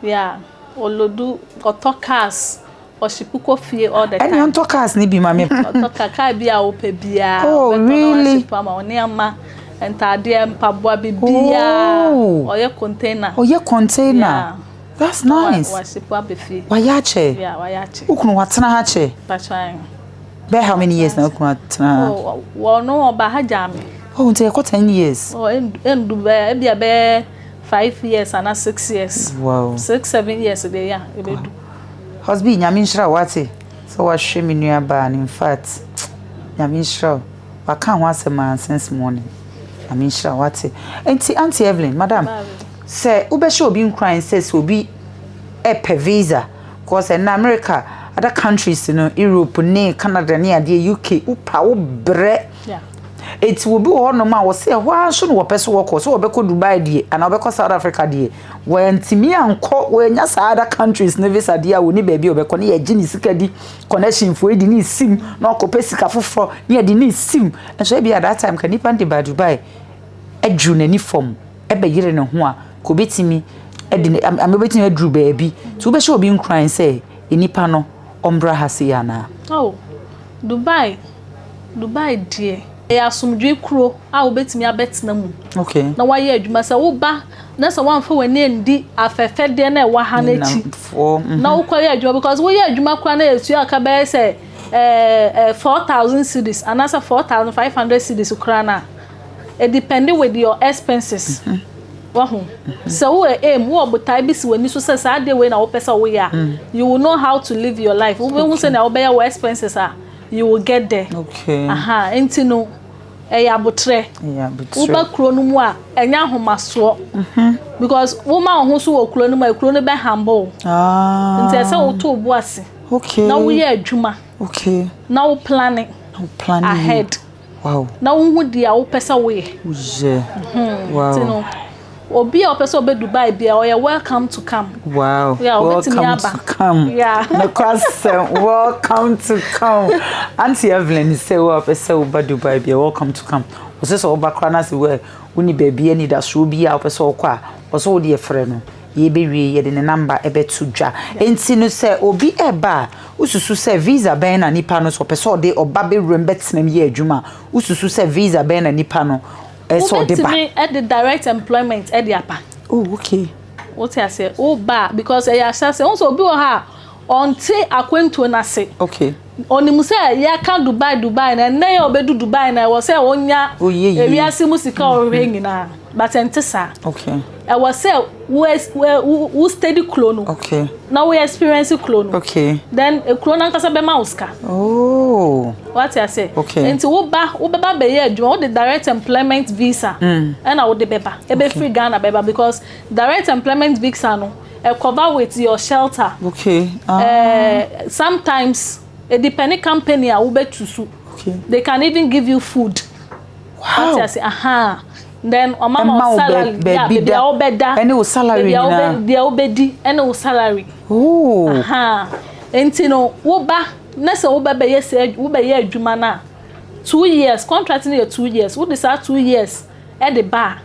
Yeah olodu ɔtɔ cars ɔhye puko fie all the time. Ɛni ɔntɔ cars ni bi ma mi. Ɔtɔ car car bi a wopɛ biara. Oh really. Ɔtɔ ama ɔneɛma ntaadeɛ mpaboa bi biara. Oh. Ɔyɛ container. Ɔyɛ container. Yeah. That's nice. Wa wahye po abɛ fie. Wa yɛ akyɛ. Yeah wa yɛ akyɛ. Ukunu wa tena ha kyɛ. Patran. Bɛ how many years na ukunu wa tena ha? Oh wɔn no ɔba ha gya mi. Oh nti ɛkɔ ten years. Oh endu bɛ ebi a bɛ. Five years ana six years. Wow. Six seven years deɛ ya ebedu. Husby nyame nhyira wo wate sɛ wahwɛ me nua baa no in fact nyame nhyira wo waka ho asɛm a since morning nyame nhyira wo wate nti auntie Evelyn madam sɛ wobɛhyɛ obi nkuran sɛ sɛ obi ɛpɛ visa cause ɛna America other countries no Europe ne Canada ne adeɛ UK wopa wo brɛ Enti obi wɔ hɔnom a wɔsɛ ɛhɔ ara nso na wɔpɛ sɛ wɔkɔ sɛ wɔbɛkɔ Dubai deɛ anaa wɔbɛkɔ South Africa deɛ wɔntumi ankɔ wɔanya saa other countries ne visa deɛ a wɔni baabi a wɔbɛkɔ ne yɛgye ne sika di connection foɔ yi de ne sim na ɔkɔpɛ sika foforɔ ne yɛde ne sim nso ebi at that time ka nipa de ba Dubai aduru n'ani fam ɛbɛyere ne ho a ka obetumi ɛde ne ama obetumi aduru baabi nti wobɛhyɛ obi nkuran sɛ nipa no ɔmbra ha sei anaa. Oh, Dubai. Dubai deɛ, ɛyɛ asomdwoe kuro a wobɛtumi abɛtena mu na woayɛ adwuma. Sɛ woba na sɛ woamfa w'ani andi afɛfɛdeɛ no a ɛwɔ ha no akyi mhm. na wokɔyɛ adwuma because woyɛ adwuma koraa na ɛtua ka bɛyɛ sɛ eh, eh, 4,000 cities anaasɛ 4,500 cities koraa no a it depend with your expenses. Mm -hmm. wahu sɛ wowɔ aim wowɔ botae bi si w'ani so sɛ saa adeɛ wei na wopɛ sɛ woyɛ a mm. you will know how to live your life wobɛhu sɛnea wobɛyɛ wɔ expenses a You will get there. Okay. Aha, nti no, ɛyɛ abotrɛ. Ɛyɛ abotrɛ. Woba kuro no mu a, ɛnyɛ ahomasoɔ. Mhm. Because woma wo ho so wɔ kuro no mu a, kuro no bɛ humble wo. Ah. Nti ɛsɛ sɛ woto wo bo ase. Okay. Na woyɛ adwuma. Okay. Na wo plane. Na wo plane. Ahead. Wow. Na wo ho di a wo pɛ sɛ wo yɛ. Wo yɛ. Mhm. Wow. Ti no. Obi a ɔpɛ sɛ ɔbɛ Dubai bia ɔyɛ welcome to come. Wow. Yeah, welcome to come. Yeah. Na kwasɛm welcome to come. Auntie Evelyn sɛ wo a ɔpɛ sɛ wo ba Dubai bia welcome to come. Ɔsɛ sɛ ɔba kora na sɛ wo ni baabi ani da so bi a ɔpɛ sɛ ɔkɔ a ɔsɛ wo deɛ frɛ no. Yɛbɛwie yɛde ne number ɛbɛto dwa. Nti no sɛ obi ɛba a, wosusu sɛ visa bɛn na nipa no sɛ ɔpɛ sɛ ɔde ɔba bɛwura mu bɛtena mu yɛ adwuma a, wosusu sɛ visa bɛn na nipa no ɛsɛ sɛ ɔde ba? Wobɛtumi ɛde direct employment ɛde aba. Oh okay. Wote aseɛ? Woba a because ɛyɛ ahyɛseɛ. Wohu sɛ obi wɔ hɔ a, Ɔnte akwantuo no ase. Okay. Ɔnim sɛ yɛka Dubai Dubai na ɛnnɛ yi a ɔbɛdu Dubai na ɛwɔ sɛ ɔnya ewiase mu sika a ɔhwehwɛ nyinaa but ɛnte saa. Okay. Ɛwɔ sɛ wo wo wo steady kuro no. Okay. Na wo experience kuro no. Okay. Then ekuro no ankasa bɛma wo sika. Oh. Wate ase. Okay. Nti wo ba wo bɛba bɛyɛ adwuma wo de direct employment visa. Mm. Ɛna wo de bɛba. Ebe free Ghana bɛba because direct employment visa no. eh, cover with your shelter. Okay. Uh... Eh, sometimes it depends company a wobɛtu so. Okay. They can even give you food. Wow. What I say, aha. Then ọma ma ọ salary. Be, be, yeah, baby a wobɛda. Ɛne wo salary na. Baby a wobɛdi ɛne wo salary. Ooh. Aha. Nti no, woba na sɛ wobɛbɛyɛ sɛ wobɛyɛ adwuma no a two years contract no yɛ two years wode saa two years ɛde ba a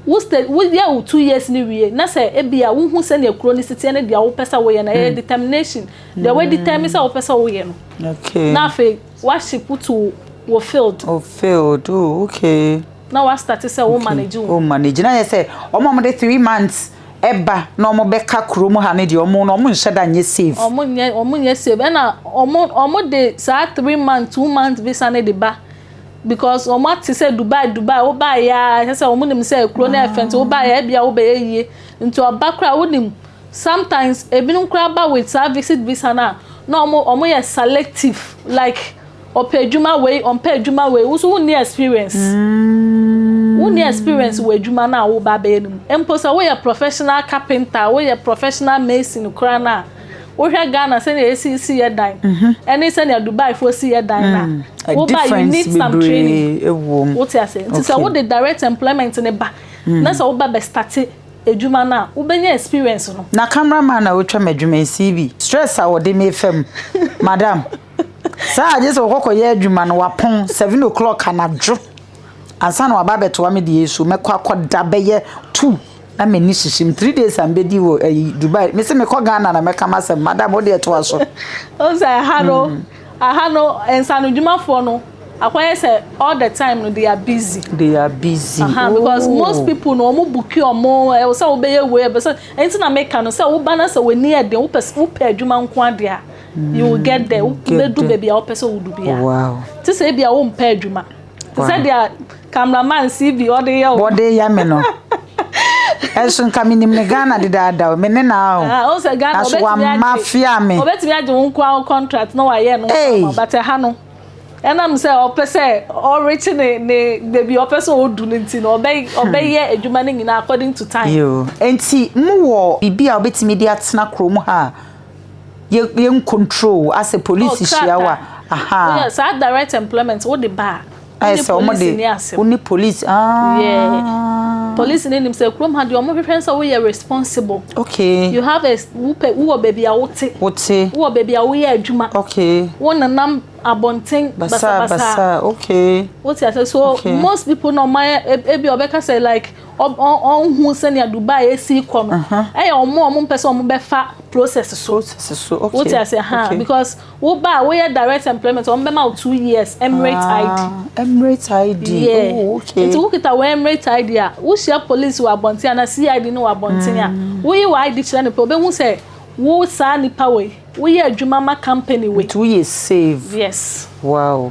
Wo stage, wo yɛ wo two years no wie na sɛ ebia wo hu sɛnea kuro no si teɛ ne deɛ wo pɛ sɛ wo yɛ no, ɛyɛ determination, deɛ wo determine sɛ wo pɛ sɛ wo yɛ no, na afei wa ship to wo field. Wo field, oh okay. Na wa start sɛ wo manage wo. Wo manage, na yɛ sɛ, wɔn a wɔn de three months ɛba na wɔn bɛ ka kuro mu ha ne deɛ wɔn no wɔn nhyɛ da nyɛ save. Wɔn nyɛ, wɔn nyɛ save, ɛna wɔn, wɔn de saa three months, two months visa ne de ba because wɔn ate sɛ Dubai Dubai wobaeɛ ya kyɛ sɛ wɔn nim sɛ kuro no ɛfɛ nti wobaeɛ a ebia wobɛyɛ yie nti ɔba koraa wonim sometimes ebinom koraa ba with saa visit visa no a na wɔn wɔn yɛ selective like ɔpɛ adwuma wei ɔmpɛ adwuma wei woso wonni experience mm. wonni experience wɔ adwuma no a woba abɛyɛ no mu mpo sɛ woyɛ professional carpenter woyɛ professional mason koraa no a Wohwɛ Ghana sɛnea yɛsi si yɛ dan ɛne sɛnea Dubai foɔ si yɛ dan no a, wo ba you need some training. Wo te aseɛ? Nti sɛ wo de direct employment no ba na sɛ wo ba bɛ starte adwuma no a, wo bɛ nya experience no. Na camera man na otwa ma adwuma yi CB stress a wɔde me fa mu madam saa agye sɛ wɔkɔkɔ yɛ adwuma no wapɔn seven o'clock anadwo ansa na waba abɛtoa me deɛ yi so mɛkɔ akɔda bɛyɛ two. na m'ani sisi mu three days a mbɛdi wɔ ɛyi eh, dubai mesi mekɔ ghana na mɛka m'asɛm madam wode ɛtoa so ɔsɛ aha no hmm. aha no nsanodwumafoɔ no akɔyɛ sɛ all the time no they are busy they are busy uh -huh, oh. because most people no wɔn buki wɔn ɛwɔ sɛ wɔbɛyɛ wei ɛbɛ sɛ ɛnti na meka no sɛ woba na sɛ wɔn ani ɛden wopɛ wopɛ adwuma nko adeɛ a you will get there wobɛdu baabi a wopɛ sɛ wodu bi a te sɛ ebi a wompɛ adwuma te sɛ deɛ cameraman cb ɔde yɛ o wɔde ya me no ɛso nka menim ne ghana dedaada o me ne naa o ah, ɔsɛ ghana naso wama fia me ɔbɛtumi agye wo nkoa wo contract na wayɛ no nkoa but ɛha no ɛnam sɛ ɔpɛ sɛ ɔrekye ne ne baabi ɔpɛ sɛ ɔdu no nti no ɔbɛ hmm. ɔbɛyɛ adwuma no nyinaa according to time. yoo nti mu wɔ biribi a ɔbɛtumi de atena kurom ha yɛ yɛ nkontrol asɛ polisi oh, hyia wa aha oh, yeah, saa direct employment wo de ba a ayɛ sɛ wɔn de wo ne polisi aa yeah. polisi ne nim sɛ kurom ha deɛ wɔn hwehwɛ sɛ woyɛ responsible okay you have a wopɛ wowɔ baabi a wote wote wowɔ baabi a woyɛ adwuma okay wo nenam abɔnten basabasa okay wote ase so okay. most people na ɔmayɛ ebi ɔbɛka sɛ like ɔnhu sɛnea Dubai esi kɔ no ɛyɛ wɔn a wɔn mpɛ sɛ wɔn bɛfa process so wote ase ha because wo ba a woyɛ direct employment wɔn bɛma wo two years emirate ah, id emirate id yeah oh, okay nti wokita wɔ emirate id a wohyia police wɔ abɔnten ana cid no wɔ abɔnten a mm. woyi wɔ id kyerɛ no pɛ obehu sɛ wo saa nipa wɔ yi woyɛ adwuma ma company wɔ yi two years save yes wow.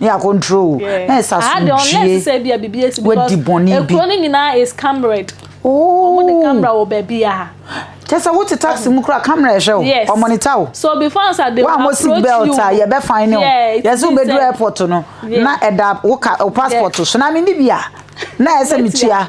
ne yɛ akɔntro o na yɛ sɛ asomdwie wadi bɔne bi. Oh. Kyɛ sɛ wote taxi mu kora camera ɛhwɛ o wɔn monitor o. Wɔn a mo si belt a yɛ bɛ fine o. Yɛ sɛ wobɛduru airport no na ɛda wo ka wo passport so na me ni bi a na yɛ sɛ me tua.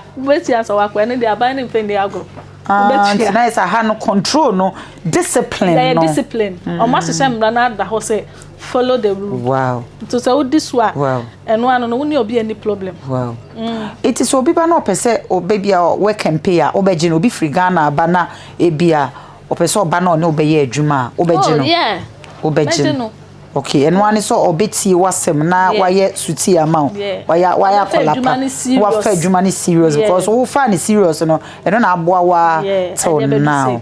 Ah nti na yɛ sɛ aha no control no discipline no. Yɛ discipline wɔn ahyehyɛ mmara no ada hɔ sɛ. Follow the rule. Wow. Nti sɛ wodi so a. Wow. Ɛno ano no wo ne obi ani problem. Wow. Mm. Eti sɛ obi ba na ɔpɛ sɛ ɔbɛ bi a wɔ campaign a wobɛgye no obi firi Ghana aba na ebi a ɔpɛ sɛ ɔba na ɔne wobɛyɛ adwuma a wobɛgye oh, no. Oh yeah. Wobɛgye no. Okay, ɛno ano sɛ ɔbɛtie w'asɛm na wayɛ suti ama wo. Wayɛ wayɛ akɔlapa. Wafa adwuma no serious because wofa no serious no ɛno na aboa wa till now.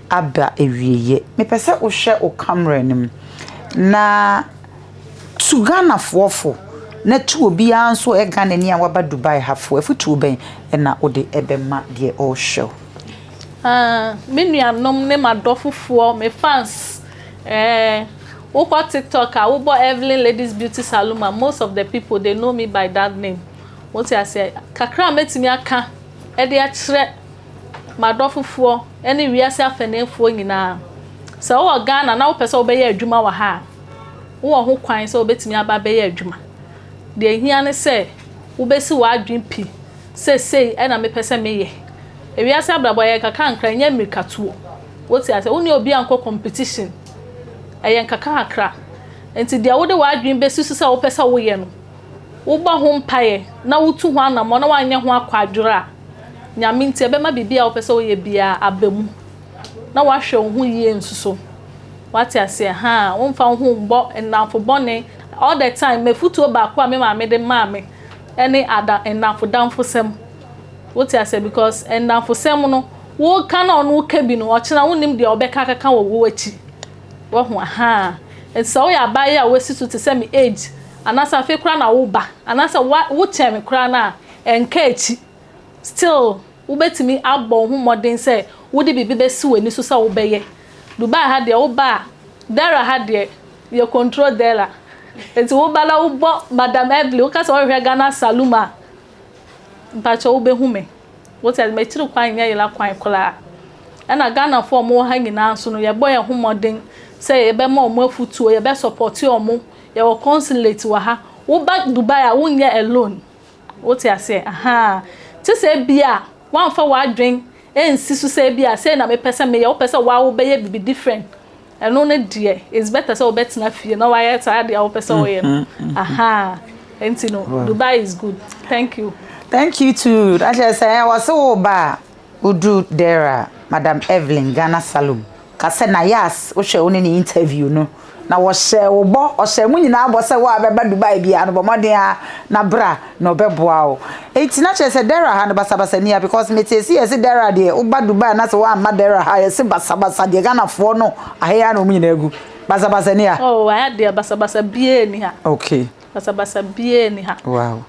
ada awieɛ. Mepɛ sɛ wo hwɛ wo camera no mu na tu Ghana foɔ fo na tu obiara nso ɔyɛ Ghanani a waba Dubai ha fo. Afutuo bɛn na wode bɛma deɛ ɔrehwɛ wo? Ah, me nuanom ne m'adɔfofoɔ, me fans, eh, wokɔ TikTok a, wobɔ Evelyn Ladies Beauty Saloon a, most of the people, they know me by that name. Wote aseɛ? Kakra a mɛtumi aka de akyerɛ M'adɔfofoɔ ne wiase afaneefoɔ nyinaa, sɛ wowɔ Ghana na wopɛ sɛ wobɛyɛ adwuma wɔ ha a, wowɔ ho kwan sɛ wobɛtumi aba abɛyɛ adwuma. Deɛ ɛhia ne sɛ wobɛsi w'adwene pi sɛ sei na mepɛ sɛ meyɛ. Ewiase abrabɔ, ɛyɛ nkakrankra, ɛnyɛ mmirikatuo. Wote aseɛ? Wo ne obi ankɔ competition. Ɛyɛ nkakrankra. Enti deɛ wode w'adwene bɛsi so sɛ wopɛ sɛ woyɛ no, wobɔ ho mpaeɛ na wotu ho anammɔn na woanyɛ ho akwadworɔ a, Nyame nti, ɛbɛma biribi a wopɛ sɛ woyɛ biara aba mu, na woahwɛ wo ho yie nso so. Wate aseɛ? Haa, womfa wo ho mmɔ nnamfo bɔne. All the time, m'afutuo baako a me maame de maa me ne ada, nnamfo damfosɛm. Wote aseɛ? Because nnamfosɛm no, woka na ɔno ka bi no, ɔkyena wonnim deɛ ɔbɛka akaka wɔ wo akyi. Wahu? Haa. Nti sɛ woyɛ abaayewa a woasi so te sɛ me age, anaasɛ afei koraa na woreba, anaasɛ woa, wokyɛn me koraa no a, Ɛnka akyi, still wobɛtumi abɔ wo ho mmɔden sɛ wode biribi bɛsi w'ani so sɛ wobɛyɛ. Dubai ha deɛ woba a, Dara ha deɛ yɛ control Dara. Nti woba na wobɔ Madam Evelyn, woka sɛ wohwehwɛ Ghana saloom a, mpakyɛ wobɛhu me. Wote aseɛ, m'akyiri kwan nyɛ yera kwan koraa. Ɛna Ghanafoɔ a wɔwɔ ha nyinaa nso no, yɛbɔ yɛn ho mmɔden sɛ yɛbɛma wɔn afutuo, yɛbɛ support wɔn. Yɛwɔ consulate wɔ ha. Woba Dubai a, wonyɛ alone. Wote aseɛ? Ahaa. Te sɛ ebia woamfa w'adwene ansi so sɛ ebia sei na mepɛ sɛ meyɛ, wopɛ sɛ wo ara wobɛyɛ biribi different. Ɛno no deɛ, it's better sɛ wobɛtena fie na woayɛ saa adeɛ a wopɛ sɛ woyɛ no. Ahaa. Ɛnti no, Dubai is good. Thank you. Thank you too. Na kyerɛ sɛ, wɔse wo ba a, Wodur dɛr a, Madam Evelyn, Ghana Salom, ka sɛ, Na Yass, wohwɛ wo ne ne interview no, na wɔhyɛɛ wo bɔ, ɔhyɛɛ mo nyina bɔ sɛ wo a bɛba Dubai biara no, bɔ mbɔden ara na bra na ɔbɛboa wo. Ntsi na kyerɛ sɛ dɛr ha no basabasa nni ha, because metsee se yɛse dɛr a deɛ woba Dubai anaasɛ wɔamma dɛr a ha a yɛse basabasa deɛ Ghanafoɔ no aha yi ara na wɔn nyinaa gu. Basabasa nni ha? Oh, ha deɛ basabasa biara nni ha. Okay. Basabasa biara nni ha. Wow.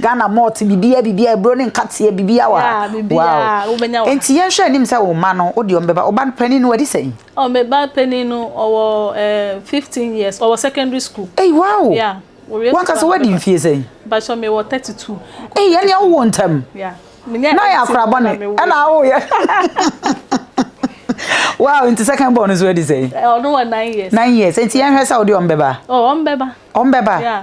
Ghana malt bibia bibia ebro ne nkateɛ bibia wa yeah, bibia wow. wobɛnya wa nti yɛnhwɛ anim sɛ wo mma no wode ɔm bɛba wo ba no panin no wadi sɛn oh, me ba panin no ɔwɔ uh, 15 years ɔwɔ secondary school hey, wow yeah wanka sɛ wadi mfie sɛn bakyɛ mewɔ 32 ei ɛneɛ wowɔ ntam yeah na yɛ akora bɔne ɛna awoyɛ wow nti second born nso adi sɛn ɔno wɔ 9 years 9 years nti yɛnhwɛ sɛ wode ɔm bɛba ɔm bɛba ɔm bɛba yeah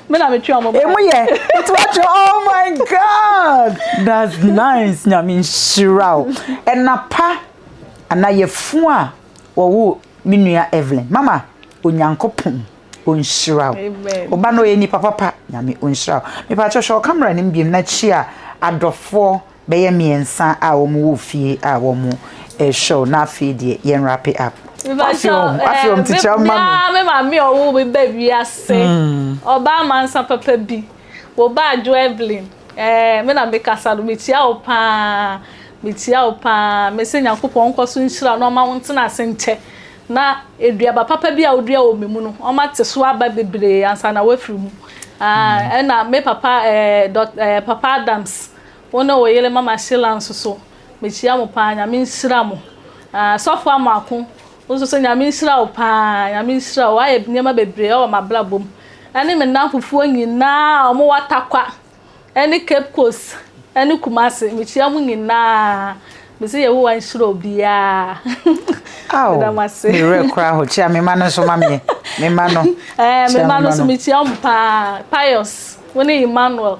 Me na me twe ɔmo ba. Emu yɛ etu atwe oh my god that's nice nyame nhyira o. Ɛna pa ana yɛfun a wɔwo me nua Evelyn mama onyankopɔn onhyira o. Oba no ɔyɛ nipa papa nyame onhyira o. Mepa kyɛw hwɛ ɔcamera no mu biem na kyia adɔfoɔ. bɛyɛ mmiɛnsa a wɔn wɔ fie a wɔn ɛhwɛw na afei deɛ yɛn wrap it up. Afei wɔn ti kyerɛ ma mi. Me maame a ɔwɔ mi bɛ wiase ɔbaa mm. mansa papa bi wɔ ba adwo Evelyn ɛɛ me na me kasa no me tia o paa me tia o paa me se nyakopɔn nkɔ so nhyira na ɔma wɔn tena ase nkyɛ na eduaba papa bi a odua wɔ mi mu no ɔma te so aba bebree ansa na wafiri mu ɛna mm. ah, me papa ɛɛ dɔk ɛɛ papa Adams. Wo ne wo yere mama Sheila nso so mekyia mo paa nyame nhyira mo ahh sɔfo Amoako wo nso so nyame nhyira wo paa nyame nhyira wo wayɛ nneɛma bebree ɛwɔ m'abrabɔ mu ɛne me nnamfofoɔ nyinaa a wɔn wɔ Atakwa ɛne Cape Coast ɛne Kumasi mekyia mo nyinaa me se Yehowa nhyira obiara Ao meda mo ase me werɛ koraa ho kyia me mma no nso ma meɛ me mma no ɛɛ me kyia mma no nso mma no. mekyia wɔn paa Pius wo ne Emmanuel.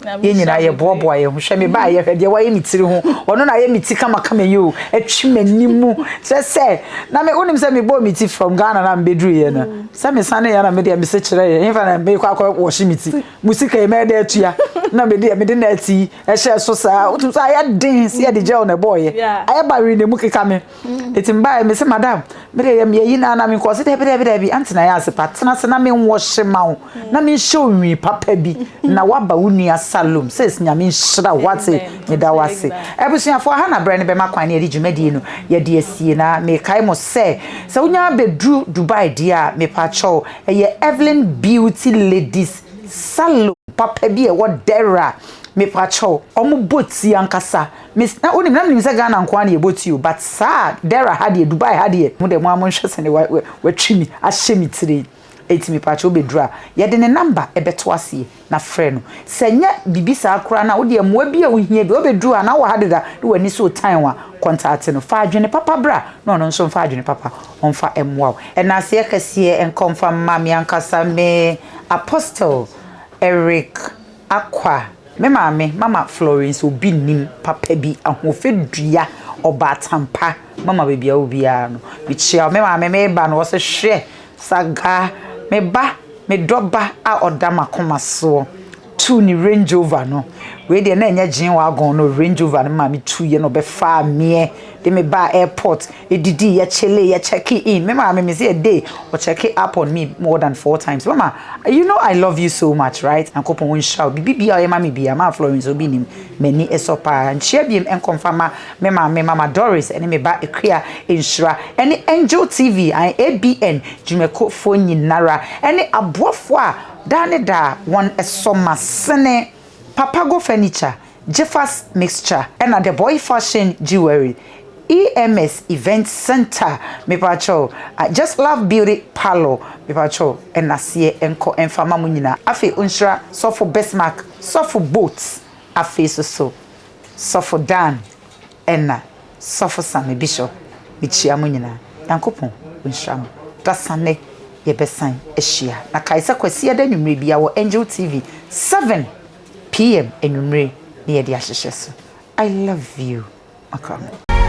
yɛn nyinaa yɛboaboa yɛn ho hwɛ me baayɛ hwɛ deɛ wayɛ me tiri ho ɔno na ayɛ me ti kamakama yi o atwi m'anim mu sɛ sɛ na me wonim sɛ mebɔɔ me ti from Ghana na mebɛduru yɛ no mm. sɛ mesane yɛ na medeɛ mese kyerɛ yɛ hefa na mekɔ akɔ wɔhye me ti mu sika yi mɛdɛ atua na medeɛ mede na ati ɛhyɛ so saa wotum sɛ ayɛ den sɛ yɛde gel na ɛbɔɔyɛ ayɛ ba were na mu keka me Eti mbae mese madam me de yɛ meyɛ yi na na menkɔ ɔse daabi daabi daabi ante na yɛ ase pa tena ase na menwɔ hye ma wo na menhyɛ onwi papa bi na waba wo nua salom sis nyame nhyira wo ate meda wo ase abusuafo aha na berɛ no bɛma kwan ne yɛde dwumadie no yɛde asie na mekae mo sɛ sɛ wonya bɛduru dubai deɛ a mepakyɛw ɛyɛ evelyn beauty ladies salom papa bi a ɛwɔ dɛra mepakyɛw ɔmo bɔ ti ankasa Me na wonim na menim sɛ Ghana nkoa na yɛbɔ ti o but saa Dera ha deɛ Dubai ha deɛ mo deɛ mo a monhwɛ sɛne wa wa watwi mi ahyɛ me tire eti me paakyɛ wobɛduru a yɛde ne number ɛbɛto aseɛ na frɛ no sɛ nyɛ bibi saa koraa na wodeɛ mmoa bi a wohia bi wobɛduru a na wɔ ha deda na w'ani so tan wa kɔntaate no fa adwene papa bra na ɔno nso mfa adwene papa ɔmfa mmoa wo ɛnaseɛ kɛseɛ nka ɔmfa mma me ankasa me apostle Eric Akwa. Me maame, Mama Florence Obi Nnim, papa bi, ahoɔfɛ dua, ɔbaatan pa, mama baabi a ɔwɔ biara no, mekyia wo. Me maame, Meba no, ɔse, Hwɛ, Sagaa, me ba, me dɔ ba a ɔda m'akoma soɔ, tuu ne Range Rover no, wei deɛ na ɛnyɛ G-Wagon no, Range Rover no maame tuiɛ na ɔbɛfaa meɛ. de me baa airport, yedidi, yɛ chillee, yɛ check in, me maame me se a day ɔ check up on me more than four times, mama you know I love you so much right, Nyankopɔn ɔnhyira wo, biribi biaa ɔyɛ ma me biaa, maa Florence obi nnim, m'ani sɔ paa, nkyia biom nkɔ mfa mma me maame mama Doris ne me ba Akua nhyira, ɛne Angel TV and ABN dwumakuofoɔ nyinara, ɛne aboafoɔ a daa ne daa wɔn sɔ m'asene, Papago Furniture, Jifas Mixture ɛna The Boy Fashion Jewelry, EMS Event Center mepakyɛw, Just Love Beauty Parlour mepakyɛw ɛnaseɛ nkɔ ɛnfa ma mo nyinaa afei onhyira Sɔfo Bismark, Sɔfo Boat afei soso Sɔfo Dan ɛna Sɔfo Sammy Bishop mekyia mo nyinaa Nyankopɔn onhyira mo dasannɛ yɛbɛsan ahyia na kae sɛ Kwasiada anwummerɛ biara wɔ Angel TV 7. PM anwummere na yɛde ahyehyɛ so. I love you, Makorɔme.